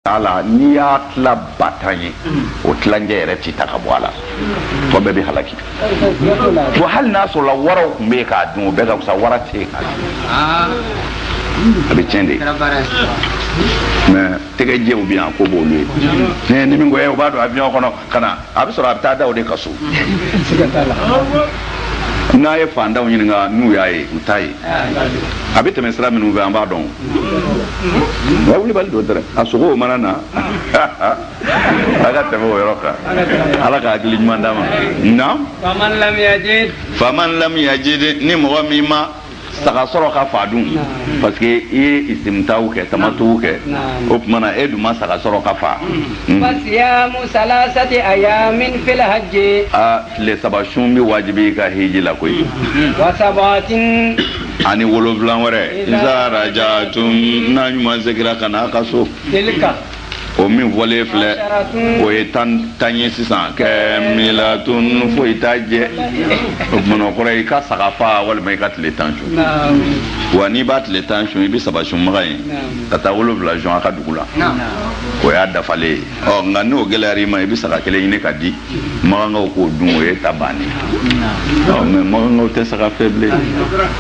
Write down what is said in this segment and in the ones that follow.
a la n'i y'a tila ba tan ye o tilancɛ yɛrɛ ti ta ka bɔ a la tɔ bɛɛ bɛ halaki wa hali n'a sɔrɔla waraw tun bɛ yen k'a dun o bɛɛ ka fisa wara tɛ yen k'a dun a bɛ tiɲɛ de mais tɛgɛjɛw bɛ yan ko b'olu ye ni min ko o b'a don avion kɔnɔ ka na a bɛ sɔrɔ a bɛ taa dɔw de ka so n'a ye fantanw ɲininka n'u y'a ye u t'a ye a bɛ tɛmɛ sira minnu fɛ an b'a dɔn nka wulibali don dɛrɛ a sogow mana na a ka tɛmɛ o yɔrɔ kan ala ka hakili ɲuman d'a ma naam faman lam yajid ni mɔgɔ min ma saga sɔrɔ ka fa dun parce que i ye istimtaw kɛ tamatuw kɛ o tuma na e dun ma saga sɔrɔ ka fa hmm. fasiyamu salasati ayamin fil hajji a tile saba sun bɛ wajibi i ka hiji la koyi hmm. wa sabatin ani wolonfila wɛrɛ iza rajatum n'a ɲuman segira ka na a ka so o min fɔlen filɛ o ye tan tan ye sisan kamilatun foyi t'a jɛ o tumana o kɔrɔ i ka saga fa walima i ka tile tan sun wa n'i b'a tile tan sun i bɛ saba sun maga yen ka taa wolonwula sun a ka dugu la o y'a dafalen ye ɔ nka n'o gɛlɛyara i ma i bɛ saga kelen ɲini ka di magankaw k'o dun o y'e ta bannen ɔ mais magankaw tɛ saga fɛ bilen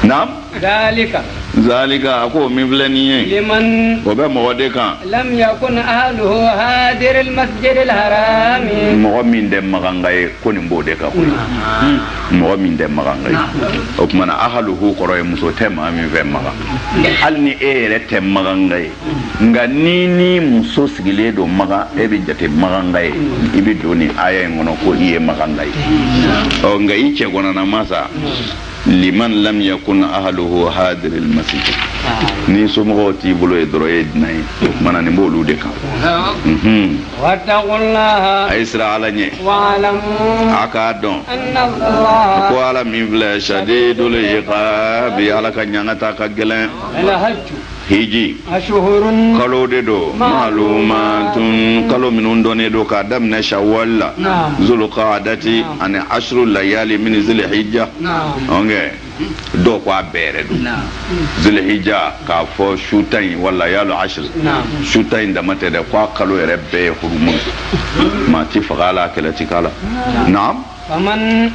naamu zalika zalika a ko min filɛ nin ye liman o bɛ mɔgɔ de kan lam yakun ahluhu hadir almasjid alharam mɔgɔ min tɛ maganga ye ko nin b'o de kan mɔgɔ min tɛ maganga ye o tuma na ahluhu kɔrɔ ye muso tɛ maa min fɛ maga hali ni e yɛrɛ tɛ maganga ye nka ni n'i muso sigilen don maga e bɛ jate maganga ye i bɛ don nin aya in kɔnɔ ko i ye maganga ye ɔ nka i cɛgɔnanama sa liman lam yakun ahluhu hadir al masjid n'i somɔgɔw t'i bolo yen dɔrɔn i ye dunan ye o tuma na nin b'olu de kan wattaqullaha a ye siran ala ɲɛ a k'a dɔn ko ala min filɛ shadidul iqabi ala ka ɲangata ka gɛlɛn hiji kalo de don malumatun kalo minnu dɔnnen don k'a daminɛ shawwal la zulqadati ani ashru layali min zilhijja ɔnkɛ dɔw ko a bɛɛ yɛrɛ don zilhijja k'a fɔ su tan in wa layalu ashru su tan in dama tɛ dɛ k'a kalo yɛrɛ bɛɛ ye hurumu maa ti faga a la kɛlɛ ti k'a la naam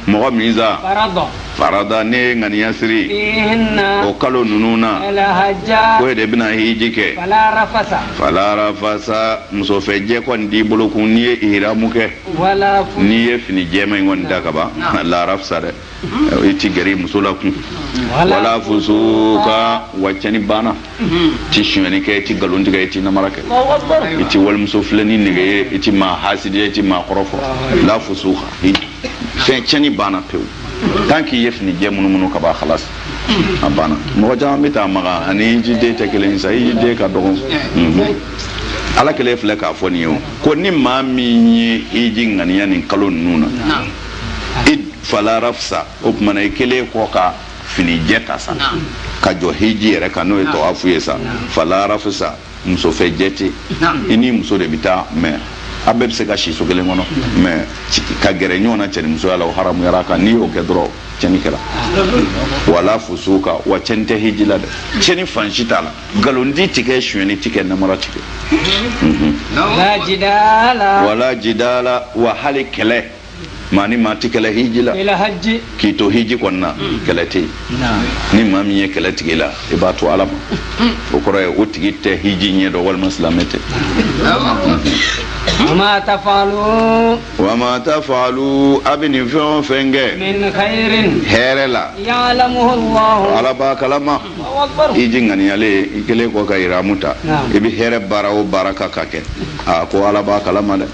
mɔgɔ min sa farada n'e ye ŋaniya siri o kalo ninnu na ko e de bɛna hiji kɛ fala rafasa musofɛjɛ kɔni t'i bolo kun n'i ye ihiramu kɛ n'i ye fini jɛman in kɔni da kaban la rafasa dɛ i ti gɛrɛ muso la kun wala fusuka wa cɛnni banna ti sonyɛni kɛ i ti nkalon tigɛ i ti namara kɛ i ti walimuso filɛni nege ye i ti maa hasidiya i ti maa kɔrɔfɔ la fusuka fɛn cɛni banna pewu tant k'i ye fini jɛ munumunu ka ban khalas a banna mɔgɔ caman bɛ taa maka ani hijiden tɛ kelen sa hijiden ka dɔgɔ ala kelen filɛ k'a fɔ nin ye o ko ni maa min ye hiji ŋaniya nin kalo ninnu na i fala rafasa o tumana i kɛlen kɔ ka fini jɛ ta sa ka jɔ hiji yɛrɛ kan n'o ye tawafu ye sa fala rafasa muso fɛ jɛ tɛ i ni muso de bɛ taa mais a bɛɛ bɛ se ka si so kelen kɔnɔ mais ka gɛrɛ ɲɔgɔn na cɛnimusoya la o haramuyara kan n'i y'o kɛ dɔrɔn cɛni kɛra wala fusuka wa cɛni tɛ hiji la dɛ cɛni fan si t'a la nkalonti ti kɛ sonyɛni ti kɛ namara ti kɛ wala jidala wa hali kɛlɛ maa ni maa ti kɛlɛ hiji la k'i to hiji kɔnɔna hmm. kɛlɛ tɛ ni maa min ye kɛlɛ tig'i la i b'a to ala ma hmm. o kɔrɔ ye o tigi tɛ hiji ɲɛ dɔn walima silamɛ tɛ wama tafalu wama tafalu a bɛ nin fɛn o fɛn kɛ min khairin hɛrɛ la ya'lamuhu Allah ala b'a kalama hiji ŋaniyalen i kɛlen kɔ ka iramu ta i bɛ hɛrɛ baara o baara ka ka kɛ a ko ala b'a kalama dɛ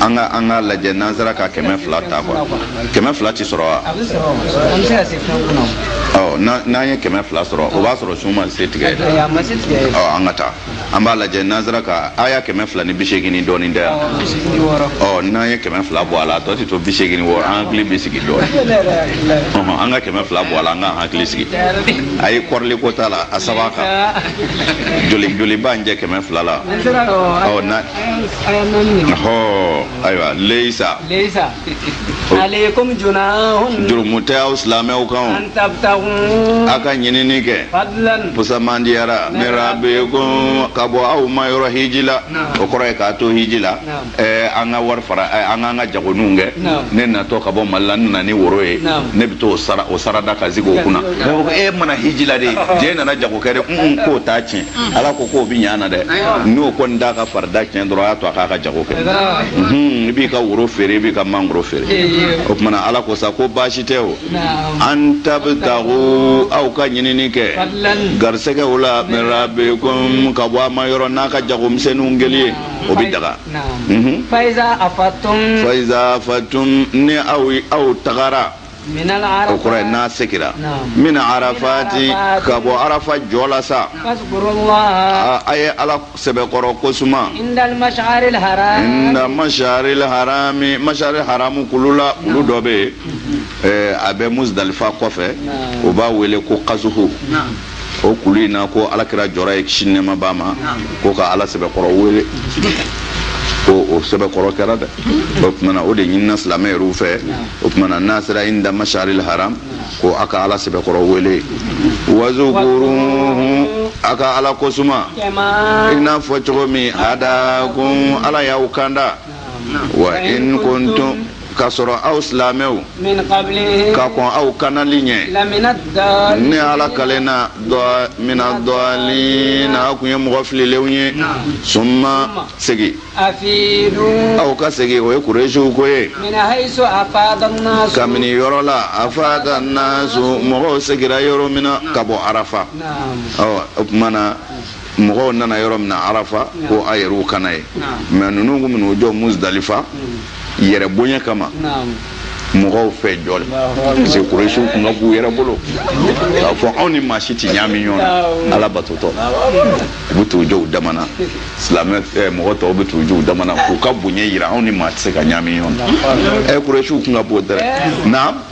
an ka an ka lajɛ n'an sera ka kɛmɛ fila ta quoi kɛmɛ fila tɛ sɔrɔ wa n'an ye kɛmɛ fila sɔrɔ o b'a sɔrɔ sun ma se tigɛ an ka taa an b'a lajɛ n'an sera ka a y'a kɛmɛ fila ni bi seegin ni dɔɔnin tɛ yan n'an ye kɛmɛ fila bɔ a la a tɔ tɛ to bi seegin wɔɔrɔ an hakili bɛ sigi dɔɔnin an ka kɛmɛ fila bɔ a la an ka hakili sigi a ye kɔrɔli ko t'a la a saba kan joli joli b'a jɛ kɛmɛ fila la hɔ ayiwa leisa. leisa alaykum junahun. jurumu tɛ aw silamɛw kan o. an tabitagu. a ka ɲinini kɛ. fadilan. pusamandiyara. min rabbikum ka bɔ aw ma yɔrɔ hiji la. o kɔrɔ ye k'a to hiji la. ɛɛ an ka wari fara an k'an ka jagoninw kɛ. ne natɔ ka bɔ mali la n nana ni woro ye. ne bɛ t'o sara o sarada ka sigi o kunna. mɛ o ko e ma na hiji la dɛ e nana jago kɛ de k'o t'a tiɲɛ. mm. ala ko k'o bi ɲa na dɛ n'o kɔni t'a ka farida tiɲɛ dɔrɔn a y'a to a k'a ka jago kɛ mhm, i b'i ka woro feere i b'i ka mangoro feere o tumana ala ko sa ko baasi tɛ o an tabitagu aw ka ɲinini kɛ garisɛgɛw la min rabbikum ka bɔ a ma yɔrɔ n'a ka jagomisɛnninw kɛli ye o bi daga mhm. faiza afatum ni aw tagara o kɔrɔ ye n'a segira min arafati ka bɔ arafa jɔ la sa a ye ala sɛbɛkɔrɔ ko suma inda masharil harami masharil haramu kulu la kulu dɔ bɛ yen a bɛ muzdalifa kɔfɛ u b'a wele ko kaso o kulu in na ko alakira jɔra yen kisi nɛɛma b'a ma ko ka ala sɛbɛkɔrɔ wele ko o sɛbɛkɔrɔ kɛra dɛ o tumana o de ɲinina silamɛ yɛrɛw fɛ o tumana n'a sera inda masharil haram ko a ka ala sɛbɛkɔrɔ wele wazukuruhu a ka ala kosuma i n'a fɔ cogo min hadakum ala y'aw kanda wa in kuntum ka sɔrɔ aw silamɛw ka kɔn aw kandali ɲɛ ne ala kalen na mina dɔɔlina aw kun ye mɔgɔ fililenw ye suma segin aw ka segin o ye kuresiw ko ye kabini yɔrɔ la afada nasu mɔgɔw seginra yɔrɔ min na ka bɔ arafa o tuma na mɔgɔw nana yɔrɔ min na arafa ko a yɛrɛw ka na yen mɛ ninnu kun bɛ n'u jɔ muzdalifa yɛrɛ bonya kama mɔgɔw fɛ jɔ la parce que kuresiw kun ka b'u yɛrɛ bolo k'a fɔ anw ni maa si tɛ ɲaami ɲɔgɔn na ala batotɔ u bɛ t'u jɔ u dama na silamɛ eh, mɔgɔ tɔw bɛ t'u jɔ u dama na k'u ka bonya yira anw ni maa tɛ se ka ɲaami ɲɔgɔn na ɛ eh, kuresiw kun ka bon dɛ naam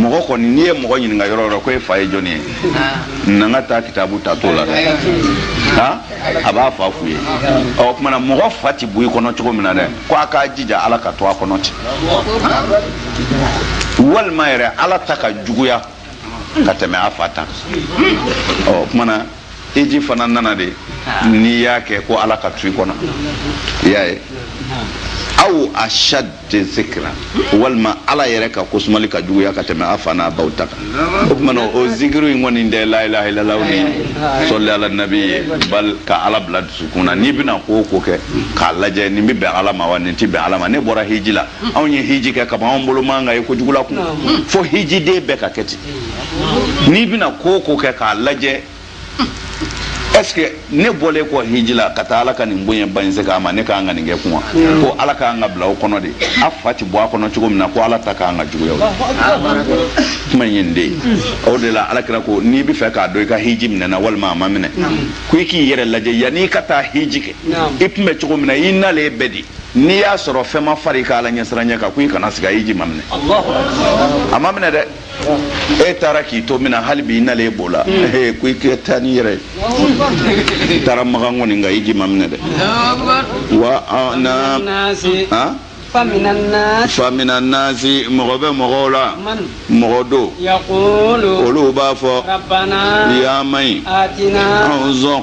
mɔgɔ kɔni n'i ye mɔgɔ ɲininka yɔrɔ yɔrɔ ko e fa ye jɔni ye n'an ka taa kitabu ta t'o la dɛ han a b'a fa f'u ye o kumana mɔgɔ fa ti bɔ i kɔnɔ cogo min na dɛ ko a k'a jija ala ka to a kɔnɔ ten walima yɛrɛ ala ta ka juguya ka tɛmɛ a fa ta o kumana hiji fana nana de n'i y'a kɛ ko ala ka to i kɔnɔ i y'a ye aw ashad zikra walima ala yɛrɛ ka kosumali ka juguya ka tɛmɛ a fa n'a baw ta kan o tuma o zikiru in kɔni tɛ la ilaha illallah ni sɔli ala nabi ye bal ka ala bila dusukun na n'i bɛna ko o ko kɛ k'a lajɛ nin bɛ bɛn ala ma wa nin tɛ bɛn ala ma ne bɔra hiji la anw ye hiji kɛ kaban anw bolo man kan ka ye kojugu la kun fo hijiden bɛɛ ka kɛ ten n'i bɛna ko o ko kɛ k'a lajɛ est-ce que ne bɔlen kɔ hiji la ka taa ala ka nin bonya ba in se k'a ma ne kan ka nin kɛ kuma hmm. ko ala kan ka bila o kɔnɔ de a fa ti bɔ a kɔnɔ cogo min na ko ala ta kan ka juguya o kuma in ye nin de ye hmm. o de la ala kira ko n'i bɛ fɛ k'a dɔn i ka hiji minɛna walima a ma minɛ hmm. ko i k'i yɛrɛ lajɛ yanni i ka taa hiji kɛ i tun bɛ cogo min na i nalen bɛ di n'i y'a sɔrɔ fɛn ma far'i ka ala ɲɛsiranya kan ko i kana siga hiji ma minɛ a ma minɛ dɛ e taara k'i to min na hali bi i nalen e b'o la mm. ko i kɛ taa n'i yɛrɛ ye i taara makan kɔni nka hiji ma minɛ dɛ wa na famina nasi mɔgɔ bɛ mɔgɔw la mɔgɔ don olu b'a fɔ ya maɲi anw sɔn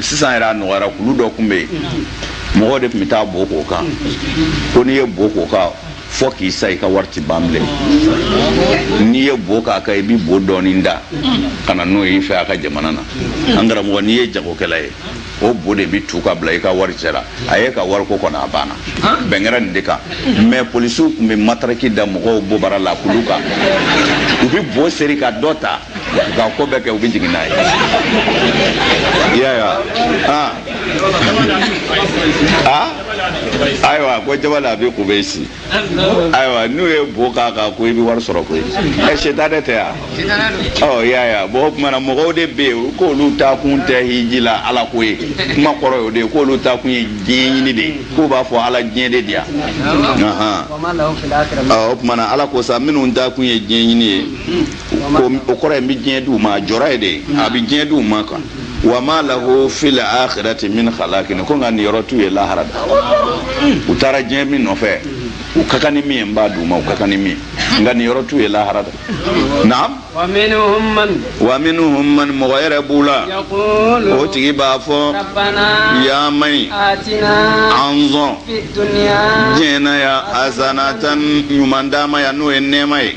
sisan yɛrɛ a nɔgɔyara kulu dɔ tun bɛ yen mɔgɔw de tun bɛ taa bo k'o kan ko n'i ye bo k'o kan fɔ k'i sa i ka wari ti ban bilen n'i ye bo k'a kan i bɛ bo dɔɔni da ka na n'o y'i fɛ a ka jamana na an karamɔgɔ n'i ye jagokɛla ye o bo de bɛ tu ka bila i ka wari cɛla a ye ka wariko kɔnɔ a banna bɛn kɛra nin de kan mɛ polisiw tun bɛ mataraki da mɔgɔw bobara la kulu kan u bɛ bo seri ka dɔ ta ka ko bɛɛ kɛ u bɛ jigin n'a ye i y'a ye wa aa aa ayiwa ko jabal abi kubeyisi ayiwa n'u ye bo k'a kan ko i bɛ wari sɔrɔ koyi ɛ setanɛ tɛ yan ɔ i y'a ye wa bɔn o tuma na mɔgɔw de bɛ yen k'olu taakun tɛ hiji la ala ko ye kuma kɔrɔ y'o de ye k'olu taakun ye diɲɛ ɲini de ye k'u b'a fɔ ala diɲɛ de di yan o tuma na ala ko sa minnu taakun ye diɲɛ ɲini ye o kɔrɔ ye n bɛ diɲɛ di u ma a jɔra ye de a bɛ diɲɛ di u ma kan wa ma lahu fil akhirati min khalaqin ko nka niyɔrɔ t'u ye lahara da u taara diɲɛ min nɔfɛ u ka kan ni min ye n b'a d'u ma u ka kan ni min ye nka niyɔrɔ t'u ye lahara da naam wa minhum man wa minhum man mɔgɔ yɛrɛ b'u la yaqulu o tigi b'a fɔ rabbana yaa ma ɲi atina an sɔn fid dunya diɲɛ na yan hasanatan ɲuman d'an ma yan n'o ye nɛɛma ye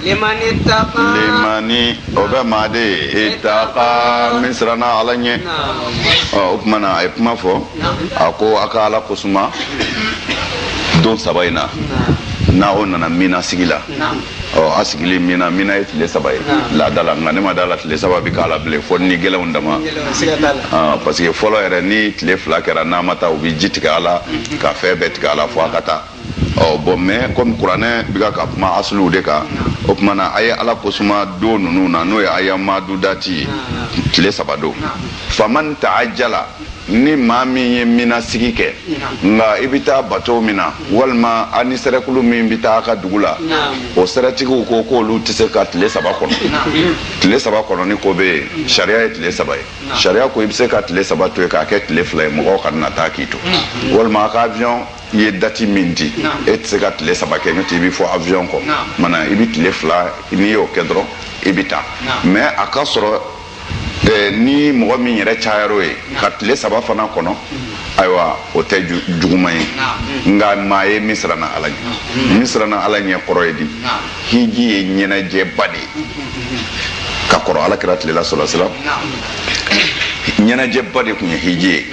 liman ittaqa limani o bɛ maa de ye ittaqa min siranna ala ɲɛ ɔ o tuma na a ye kuma fɔ a ko a ka ala kosuma don saba in na n'aw nana mina sigi la ɔ a sigilen mina mina ye tile saba ye laada la nka ne ma da a la tile saba bɛ k'a la bilen fo ni gɛlɛnw dama parce que fɔlɔ yɛrɛ ni tile fila kɛra n'a ma taa u bɛ ji tigɛ a la ka fɛn bɛɛ tigɛ a la fo a ka taa ɔ bɔn mɛ kɔmi kuranɛ bɛ ka kuma asuluw de kan o tuma na a ye ala kosuma don ninnu na n'o ye ayam madudati ye tile saba don faman ta'ajjala ni maa min ye mina sigi kɛ nka i bɛ taa bato min na walima a ni sɛrɛkulu min bɛ taa a ka dugu la o sɛrɛtigiw ko k'olu tɛ se ka tile saba kɔnɔ tile saba kɔnɔ ni ko bɛ yen sariya ye tile saba ye sariya ko i bɛ se ka tile saba to yen k'a kɛ tile fila ye mɔgɔw kana taa k'i to walima a ka avion i ye dati min di e tɛ se ka tile saba kɛ n'o tɛ i bɛ fɔ avion kɔ mana i bɛ tile fila n'i y'o kɛ dɔrɔn i bɛ taa mais a ka sɔrɔ eh, ni mɔgɔ min yɛrɛ cayar'o ye ka tile saba fana kɔnɔ mm-hmm. ayiwa o tɛ juguman ye mm-hmm. nka maa ye min siranna ala ɲɛ mm-hmm. min siranna ala ɲɛ kɔrɔ ye di hiji ye ɲɛnajɛba de ye ka kɔrɔ alakira tile la sala salam ɲɛnajɛba de tun ye hiji ye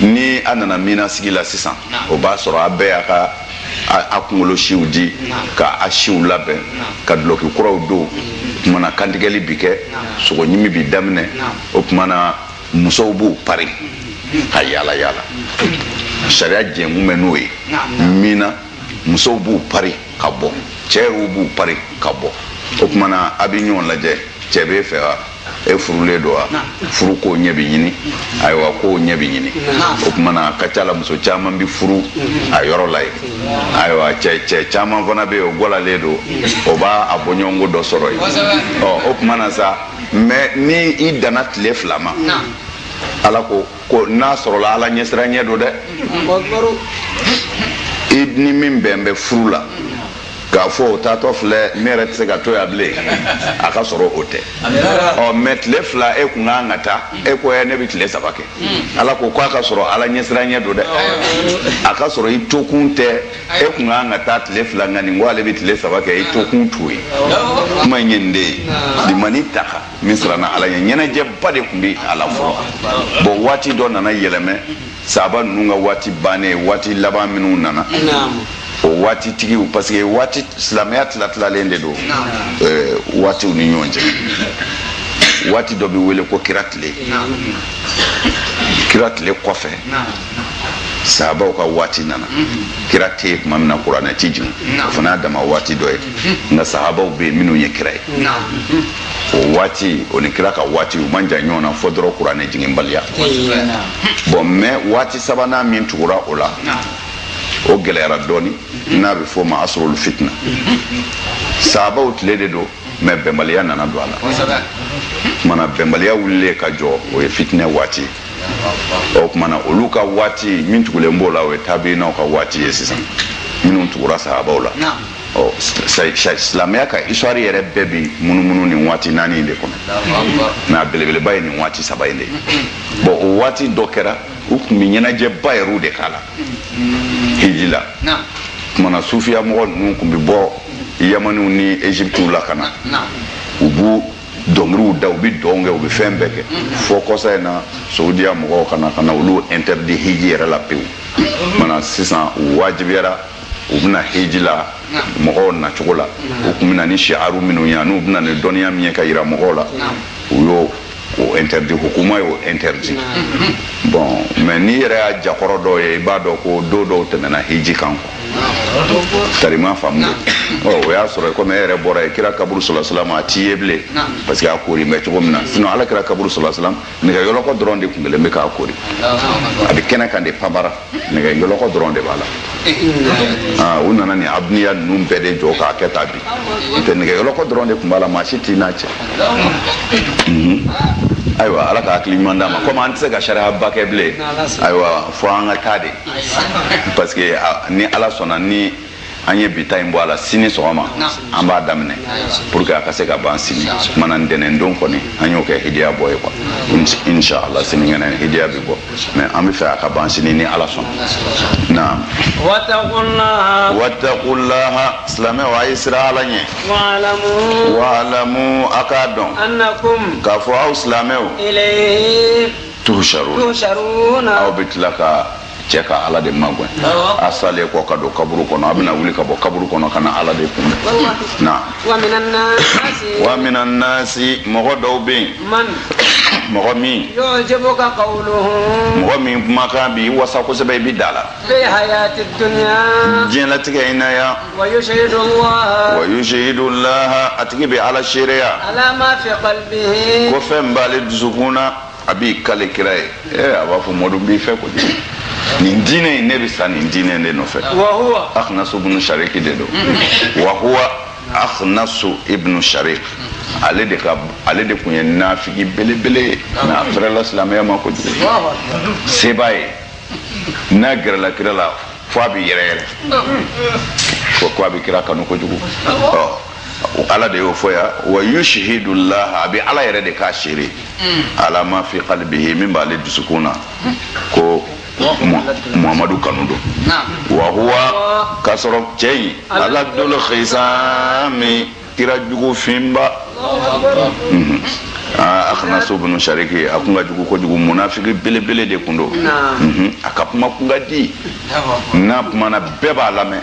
ni a nana mina sigi la sisan o b'a sɔrɔ a bɛɛ y'a ka a kunkolo siw di ka a siw labɛn ka dulɔki kuraw don o kumana kantigɛli bi kɛ sogo ɲimi bi daminɛ o kumana musow b'u pari ka yaala yaala sariya jɛnkun bɛ n'o ye mina musow b'u pari ka bɔ cɛ yɛrɛw b'u pari ka bɔ o kumana a bɛ ɲɔgɔn lajɛ cɛ b'e fɛ wa e furulen don wa furu ko ɲɛ bɛ ɲini ayiwa ko ɲɛ bɛ ɲini o kumana a ka ca la muso caman bɛ furu a yɔrɔ la yen ayiwa cɛ cɛ caman fana bɛ yen o gɔlalen don o b'a a bɔɲɔgɔnko dɔ sɔrɔ yen ɔ o kumana sa mais ni i danna tile fila ma ala ko ko n'a sɔrɔla ala ɲɛsiranɲɛ don dɛ i ni min bɛn bɛ furu la k'a fɔ o taatɔ filɛ ne yɛrɛ tɛ se ka to yan bilen a ka sɔrɔ o tɛ ɔ mais tile fila e kun kan ka taa e ko ne bɛ tile saba kɛ ala ko k'a ka sɔrɔ ala ɲɛsiranɲɛ don dɛ a ka sɔrɔ i tokun tɛ e kun kan ka taa tile fila nka nin ko ale bɛ tile saba kɛ i tokun t'o ye kuma in ye nin de ye limani taka min siranna ala ɲɛ ɲɛnajɛba de tun bɛ a la fɔlɔ bon waati dɔ nana yɛlɛmɛ sahaba ninnu ka waati bannen waati laban minnu nana o waati tigiw parce que waati silamɛya tilatilalen de don eh, waatiw ni ɲɔgɔn cɛ waati dɔ bɛ wele ko kira tile kira tile kɔfɛ sahabaw ka waati nana kira tɛ yen tuma min na kuranɛ ti jigin o fana y'a dama waati dɔ ye nka sahabaw bɛ yen minnu ye kira ye o waati o ni kira ka waati u man jan ɲɔgɔn na fo dɔrɔn kuranɛ jiginbaliya bon mais waati sabanan min tugura o la o gɛlɛyara dɔɔni n'a bɛ fɔ o ma asrul fitna sahabaw tile de don mais bɛnbaliya nana don a la kumana bɛnbaliya wulilen ka jɔ o ye fitinɛ waati o kumana olu ka waati min tugulen b'o la o ye tabiinaw ka waati ye sisan minnu tugura sahabaw la ɔ silamɛya ka histoire yɛrɛ bɛɛ bi munumunu nin waati naani in de kɔnɔ mais a belebeleba ye nin waati saba in de ye bon o waati dɔ kɛra u tun bɛ ɲɛnajɛba yɛrɛw de k'a la hiji la kumana sufiya mɔgɔ ninnu tun bɛ bɔ yamaniw ni egyptiw la ka na u b'u dɔnkiliw da u bɛ dɔn kɛ u bɛ fɛn bɛɛ kɛ fo kɔsa in na saudiya mɔgɔw ka na ka na olu interdit hiji yɛrɛ la pewu mana sisan u wajibiyara u bɛ na hiji la mɔgɔw nacogo la u tun bɛ na ni siaru minnu ye n'u bɛ na ni dɔnniya min ye ka yira mɔgɔw la u y'o o interdit hukuma y'o interdit bon mais n'i yɛrɛ y'a ja kɔrɔ dɔw ye i b'a dɔn ko don dɔw tɛmɛna hiji kan kɔ tari ma faamu ɔ o y'a sɔrɔ komi e yɛrɛ bɔra yen kira kaburu salasalam a tɛ ye bilen parce que a koori bɛ cogo min na sinon ala kira kaburu salasalam nɛgɛ yɔlɔkɔ dɔrɔn de tun kelen bɛ k'a koori a bɛ kɛnɛ kan de pabara nɛgɛ yɔlɔkɔ dɔrɔn de b'a la u nana nin abiniya ninnu bɛɛ de jɔ k'a kɛ ta bi n'o tɛ nɛgɛ yɔlɔkɔ dɔrɔn de tun b'a la maa si t'i n'a cɛ ayiwa ala ka hakili ɲuman d'an ma komi an tɛ se ka sariyaba kɛ bilen ayiwa fo an ka taa dɛ parce que ni ala sɔnna ni an ye bi ta in bɔ a la sini sɔgɔma an b'a daminɛ pour que a ka se ka ban sini mana ntɛnɛn don kɔni an y'o kɛ hidiya bɔ ye quoi inshallah sinikɛnɛ hidiya bɛ bɔ mais an bɛ fɛ a ka ban sini ni ala sɔnna naam wattaqullaha silamɛw a ye siran ala ɲɛ wa'lamu a k'a dɔn k'a fɔ aw silamɛw tuhsharun aw bɛ tila ka cɛ ka ala de magwɛn a salen kɔ ka don kaburu kɔnɔ a bɛna wuli ka bɔ kaburu kɔnɔ ka na ala de kunbɛn na wa mina nasi mɔgɔ dɔw bɛ yen mɔgɔ min mɔgɔ min kumakan b'i wasa kosɛbɛ i bɛ d'a la diɲɛlatigɛ in na yan wa yushihidu laha a tigi bɛ ala seereya ko fɛn b'ale dusukun na a b'i kali kira ye ee a b'a fɔ mɔdu n b'i fɛ kojugu nin diinɛ in ne bɛ sa nin diinɛ de nɔfɛ akhnasu ibnu shariki de don wa huwa akhnasu ibnu sharik ale de ka ale de kun ye nafigi belebele ye mais a fɛrɛla silamɛya ma kojugu seba ye n'a gɛrɛla kira la fo a bɛ yɛrɛyɛrɛ fo ko a bɛ kira kanu kojugu ɔ ala de y'o fɔ yan wa yushihidu laha a bɛ ala yɛrɛ de k'a seere mm. ala ma fi kalibihi min b'ale dusukun na mm. ko muhamadu kanu don wa huwa k'a sɔrɔ cɛ in aladul xisami kira jugu finba mhm. ah, akhnasu bunu sariki a kun ka jugu kojugu munafiki belebele de kun don mhm. a ka kuma kun ka di n'a kumana bɛɛ b'a lamɛn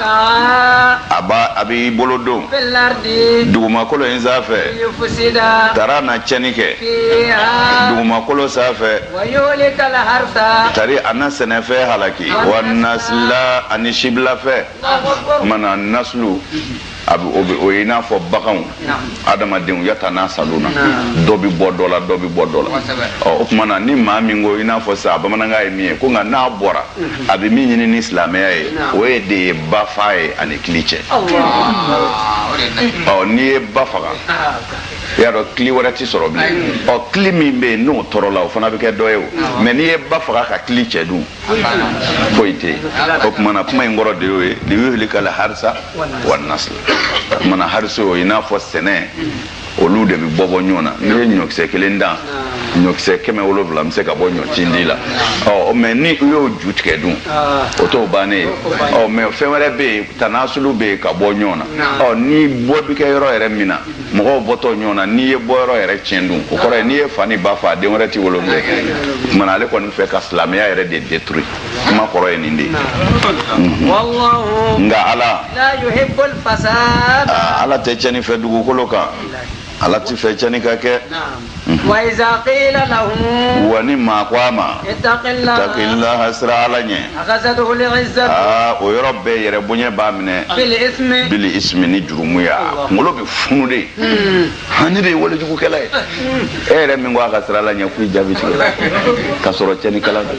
a b'a a b'i bolo don dugumakolo in sanfɛ tari a na cɛni kɛ dugumakolo sanfɛ tari a na sɛnɛfɛn halaki wa nasila ani sibilafɛn mana naslu a o ye i n'a fɔ baganw adamadenw yatanasaluna dɔ bɛ bɔ dɔ la dɔ bɛ bɔ dɔ la o tuma na ni maa min ko i n'a fɔ sa bamanankan ye min ye ko nka n'a bɔra a bɛ min ɲini ni silamɛya ye o ye de ye ba fa ye ani kili cɛn ɔ n'i ye ba faga i y'a dɔn kili wɛrɛ tɛ sɔrɔ bilen ɔ kili min bɛ yen n'o tɔrɔla o fana bɛ kɛ dɔ ye ɔ mɛ n'i ye ba faga ka kili cɛn dun foyi tɛ yen o tuma na kuma in kɔrɔ de y'o ye liyuhlikal harisa wanasl o tuma na hariso i n'a fɔ sɛnɛ olu de bɛ bɔbɔ ɲɔgɔn na n'i ye ɲɔkisɛ kelen dan ɲɔkisɛ kɛmɛ wolonwula bɛ se ka bɔ ɲɔcindi la ɔ mɛ ni i y'o ju tigɛ dun o t'o bannen ye ɔ mɛ fɛn wɛrɛ bɛ yen tanasulu bɛ yen ka bɔ ɲɔgɔn na ɔ ni bɔ bɛ kɛ yɔrɔ yɛrɛ min na mɔgɔw bɔtɔ ɲɔgɔn na n'i ye bɔ yɔrɔ yɛrɛ tiɲɛ dun o kɔrɔ ye n'i ye fa ni ba fa den wɛrɛ ti wolo bilen kumana ale kɔni fɛ ka silamɛya yɛrɛ de détruire kuma kɔrɔ ye nin de nka ala ala tɛ cɛni fɛ dugukolo kan ala ti fɛ cɛni ka kɛ mhm. wa ni maa ko a ma takilaha siran ala ɲɛ aa o yɔrɔ bɛɛ yɛrɛ bonya b'a minɛ bili ismi ni jurumu y'a kunkolo bɛ funu de hmm. han ne de ye walejugukɛla ye hmm. e yɛrɛ min ko a ka siran ala ɲɛ k'i jaabi tigɛ ka sɔrɔ cɛnikɛla don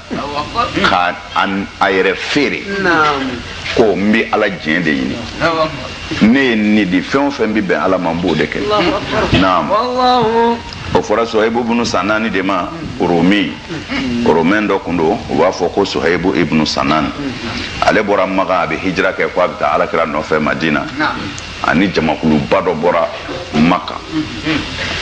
ka a yɛrɛ feere ko n bɛ ala diɲɛ de ɲini ne ye n ni di fɛn o fɛn bɛ bɛn ala ma n b'o de kɛ naam o fɔra sohayibu bunu sanani de ma romi romɛn dɔ kun don u b'a fɔ ko sohayibu ibunu sanani ale bɔra makan a bɛ hijira kɛ ko a bɛ taa alakira nɔfɛ madina ani jamakuluba dɔ bɔra makan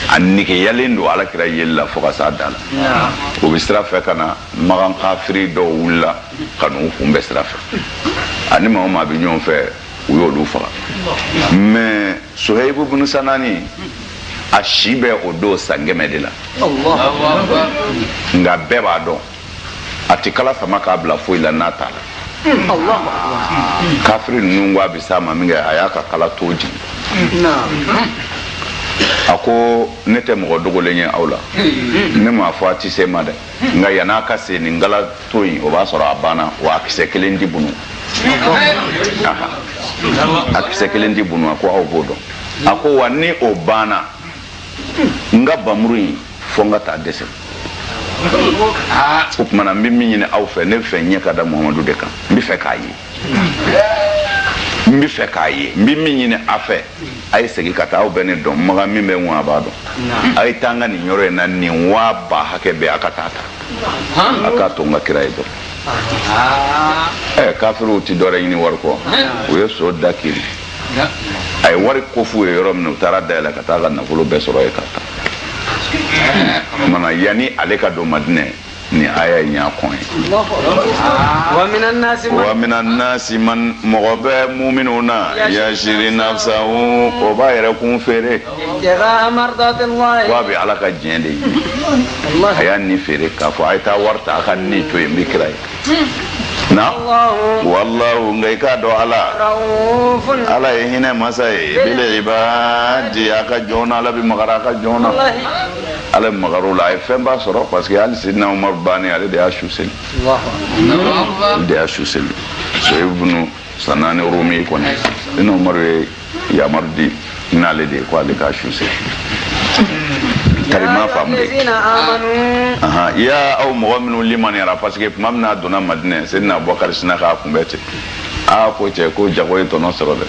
a negeyalen don ala kira yeli la fo ka s'a dan na u bɛ sira fɛ ka na makan kafiri dɔw wulila ka n'u kunbɛn sira fɛ ani maa o maa bɛ ɲɔgɔn fɛ u y'olu faga mɛ sohayibu bunu sanani a si bɛ o don san kɛmɛ de la nka bɛɛ b'a dɔn a tɛ kala sama k'a bila foyi la n'a t'a la kafiri ninnu ko a bɛ s'a ma minkɛ a y'a ka kala ton jigin a ko ne tɛ mɔgɔ dogolen ye aw la ne m'a fɔ a tɛ se n ma dɛ nka yann'a ka se nin kala ton in o b'a sɔrɔ a banna wa a kisɛ kelen ti bunu a kisɛ kelen ti bunu a ko aw b'o dɔn a ko wa ni o banna n ka bamuru in fo n ka taa dɛsɛ o tuma na n bɛ min ɲini aw fɛ ne bɛ fɛ n ɲɛ ka da muhamadu de kan n bɛ fɛ k'a ye n bɛ fɛ k'a ye n bɛ min ɲini a fɛ a ye segin ka taa aw bɛ ne dɔn makan min bɛ n kun a b'a dɔn a ye taa n ka nin yɔrɔ in na nin waa ba hakɛ bɛɛ a ka taa ta a k'a to n ka kira ye dɔrɔn ɛ kafiriw tɛ dɔwɛrɛ ɲini wari kɔ u ye so da kiri a ye wari ko f'u ye yɔrɔ min u taara dayɛlɛ ka taa ka nafolo bɛɛ sɔrɔ yen k'a ta mana yanni ale ka don madinɛ ni aya in y'a kɔn yen wa mina nasi man mɔgɔ bɛ muminw na yasiri nafsahu o b'a yɛrɛ kun feere ko a bɛ ala ka diɲɛ de ɲini a y'a ni feere k'a fɔ a ye taa wari ta a ka ne to yen n bɛ kira ye na wallahu nka i k'a dɔn ala ala ye hinɛ masa ye bil ibadi a ka jɔn na ala bɛ magara a ka jɔn na ala bɛ magara o la a ye fɛnba sɔrɔ parce que hali sidina umaru bannen ale de y'a su seli ale de y'a su seli suhayibu bunu sanani rumi kɔni sidina umaru ye yamaru di n'ale de ye ko ale k'a su seli karima faamu de ya aw mɔgɔ minnu limaniyara parce que tuma min n'a donna madinɛ sidina abubakari sina k'a kunbɛn ten aa ko cɛ ko jago ye tɔnɔ sɔrɔ dɛ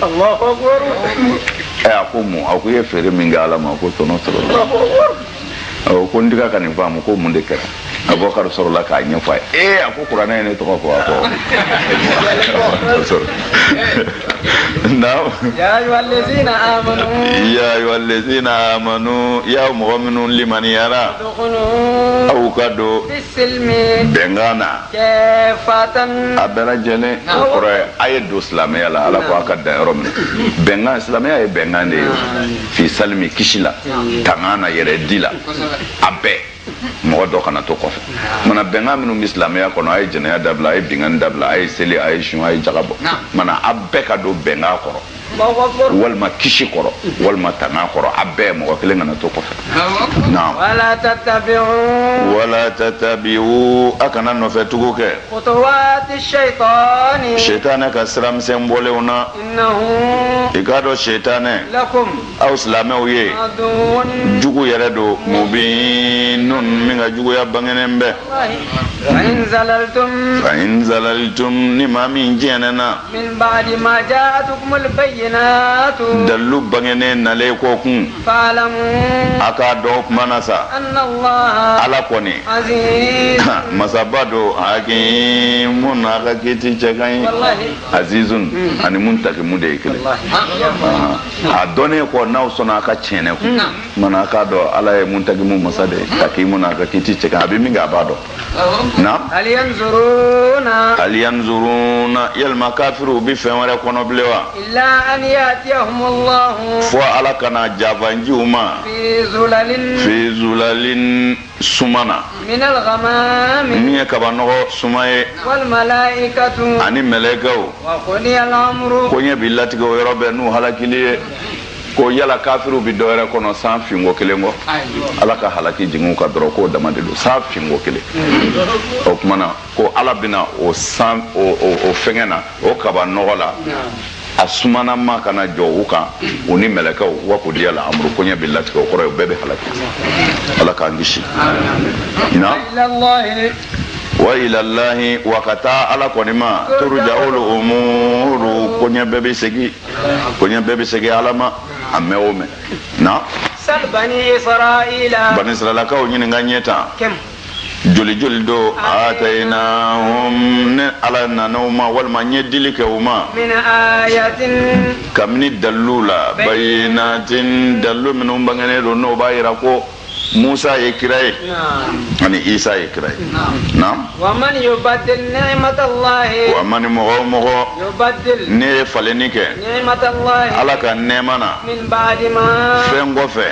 ɛ a ko mun a ko i ye feere min kɛ ala ma k'o tɔnɔ sɔrɔ ɔ ko n tɛ ka kan in faamu ko mun de kɛra abubakar sɔrɔla k'a ɲɛfɔ a ye ee a ko kuranɛ ye ne tɔgɔ fɔ a ko naam ya ayyuhallazina amanu ya ayyuhallazina amanu ya mɔgɔ minnu limaniyara aw ka don bɛnkan na a bɛɛ lajɛlen o kɔrɔ ye a ye don silamɛya la ala ko a ka dan yɔrɔ min bɛnkan silamɛya ye bɛnkan de ye fi salimi kisi la tanga na yɛrɛ di la a bɛɛ mɔgɔ dɔ kana to kɔfɛ mana bɛnkan minnu bɛ silamɛya kɔnɔ a ye jɛnɛya dabila a ye binkanni dabila a ye seli a ye sun a ye jaga bɔ mana a bɛɛ ka don bɛnkan kɔrɔ walima kisi kɔrɔ walima tanga kɔrɔ a bɛɛ mɔgɔ kelen kana to kɔfɛ naam wala tatabi'u wala tatabi'u a kana nɔfɛ tugu kɛ khutuwati shaytani shaytana ka sira misɛn bɔlenw na i k'a dɔn setanɛ aw silamɛw ye jugu yɛrɛ don mubinun min ka juguya bangenen bɛ fa in zalalitum ni maa min jɛnɛna dalilu bangenen nalen kɔ kun a k'a dɔn o kuma na sa ala kɔni masaba don hakimun a ka kiti cɛ ka ɲi azizun ani muntakimu de ye kelen a dɔnnen kɔ n'aw sɔnna a ka tiɲɛni ko mana a k'a dɔn ala ye muntakimu masa de ye hakimun a ka kiti cɛ ka ɲi a bɛ min kɛ a b'a dɔn na hal yanzuruna hal yanzuruna yalima kafiriw bɛ fɛn wɛrɛ kɔnɔ bilen wa illa an yatiyahumullahu fo ala ka na jafanji u ma fi zulalin fi zulalin suma na min ye kabanɔgɔ suma ye ani mɛlɛkɛw koɲɛ bi latigɛ o yɔrɔ bɛ n'u halakili ye ko yala kafiriw bi dɔwɛrɛ kɔnɔ sanfin ko kelen kɔ ala ka halaki jigin u kan dɔrɔn k'o dama de don sanfin ko kelen o tuma na ko ala bɛna o san o fɛngɛ na o kabanɔgɔ la a suma na ma ka na jɔ u kan u ni mɛlɛkɛw wa kudiyal amuru koɲɛ bɛ latigɛ o kɔrɔ ye bɛɛ bɛ halaki ala k'an kisi na wa ilalahi wa ka taa ala kɔni ma turuja'ul umuru koɲɛ bɛɛ bɛ segin koɲɛ bɛɛ bɛ segin ala ma a mɛn o mɛn na bani israilakaw ɲininka ɲɛ tan joli joli do atainahum ne ala nana u ma walima n ye dili kɛ u ma kabini dalilu la bayinatin dalilu minnu bangenen do n'o b'a yira ko musa ye kira ye ani isa ye kira ye naam wa man mɔgɔ o mɔgɔ n'e ye falenni kɛ ala ka nɛɛma na fɛn kɔfɛ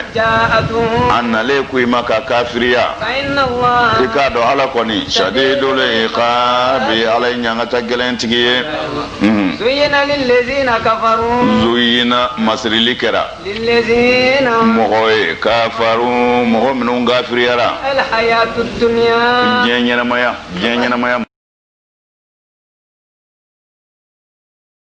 a nalen kɔ i ma ka kafiriya i k'a dɔn ala kɔni sadidul ikabi ala ye ɲangata gɛlɛn tigi ye mhm. zuyina masirili kɛra mɔgɔ ye kafaru mɔgɔ minnu kafiriyara diɲɛ ɲɛnamaya diɲɛ ɲɛnamaya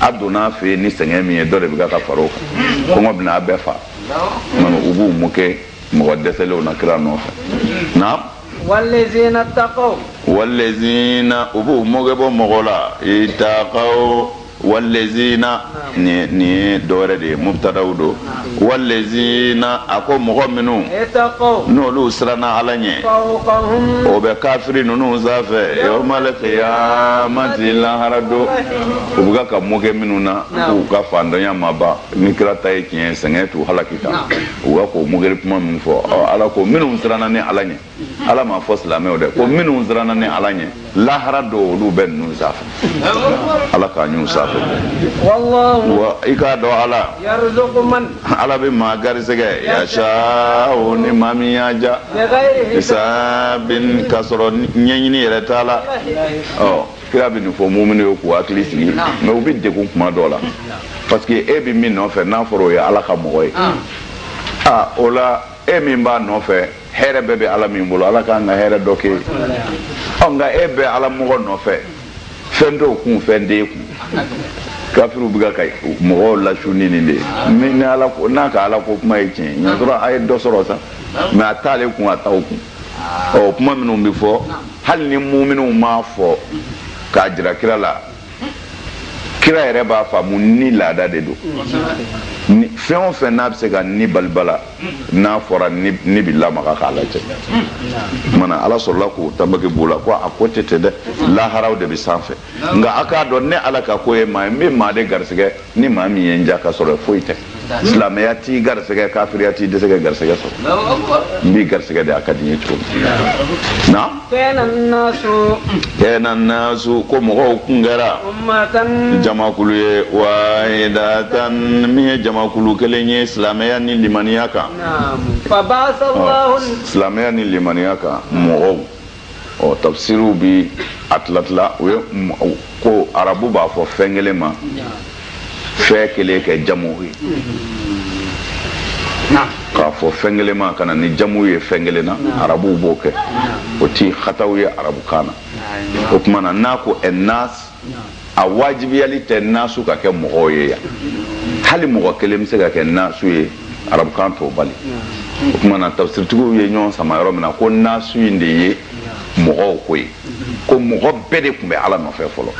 a donna a fɛ ni sɛgɛn min ye dɔ de bɛ ka ka fara o kan kɔngɔ bɛna a bɛɛ faa u b'u mɔkɛ mɔgɔ dɛsɛlenw na kira nɔfɛ naam walezina takaw walezina u b'u mɔkɛ bɔ mɔgɔ la itakaw walezina nin ye dɔwɛrɛ de ye mubtadaw don walezina a ko mɔgɔ minnu n'olu siranna ala ɲɛ o bɛ kafiri ninnu sanfɛ yawmal kiyamati lahara don u bɛ ka mɔkɛ minnu na k'u ka fantanya ma ban ni kira ta ye tiɲɛ sɛgɛn t'u halaki tan u bɛ k'o mɔkɛri kuma min fɔ ala ko minnu siranna ne ala ɲɛ ala m'a fɔ silamɛw dɛ ko minnu siranna ne ala ɲɛ lahara don olu bɛ ninnu sanfɛ ala k'a ɲu sanfɛ wa i k'a dɔn ala ala bɛ maa garisɛgɛ yasaawu ni maa min y'a ja hisaabin k'a sɔrɔ ɲɛɲini yɛrɛ t'a la ɔ kira bɛ nin fɔ muminiw ye k'u hakili sigi mais u bɛ degun kuma dɔw la parce que e bɛ min nɔfɛ n'a fɔra o ye ala ka mɔgɔ ye aa o la e min b'a nɔfɛ hɛrɛ bɛɛ bɛ ala min bolo ala k'an ka hɛrɛ dɔ kɛ ɔ nka e bɛ ala mɔgɔ nɔfɛ fɛn t'o kun fɛn t'e kun kafiriw bɛ ka mɔgɔw lasu ni nin de ye min ni ala ko n'a ka ala ko kuma ye tiɲɛ ye y'a sɔrɔ a ye dɔ sɔrɔ sa mais a t'ale kun a t'aw kun ɔ kuma minnu bɛ fɔ hali ni muminw m'a fɔ k'a jira kira la kira yɛrɛ b'a faamu ni laada de don fɛn o fɛn n'a bɛ se ka ni balibala n'a fɔra ni bɛ lamaga k'a lajɛ mana ala sɔrɔla ko tanbaki b'o la ko a ko tɛ ten dɛ laharaw de bɛ sanfɛ nka a k'a dɔn ne ala ka ko ye maa n bɛ maa de garisɛgɛ ni maa min ye n ja ka sɔrɔ foyi tɛ silamɛya t'i garisɛgɛ kafiriya t'i dɛsɛ ka garisɛgɛ sɔrɔ n b'i garisɛgɛ de a ka di n ye cogo min na kɛna nasu ko mɔgɔw kun kɛra jamakulu ye wahidatan min ye jamakulu kelen ye silamɛya ni limaniya kan silamɛya ni limaniya kan mɔgɔw ɔ tafsiriw bi a tilatila o ye ko arabu b'a fɔ fɛn kelen ma fɛn kelen kɛ jamu ye k'a fɔ fɛn kelen ma ka na ni jamu ye fɛn kelen na arabuw b'o kɛ o ti hataw ye arabukan na o tuma na n'a ko ɛnas a wajibiyali tɛ nasu ka kɛ mɔgɔw ye yan hali mɔgɔ kelen bɛ se ka kɛ nasu ye arabukan t'o bali o tuma na tafsiritigiw ye ɲɔgɔn sama yɔrɔ min na ko nasu in de ye mɔgɔw ko ye ko mɔgɔ bɛɛ de tun bɛ ala nɔfɛ fɔlɔ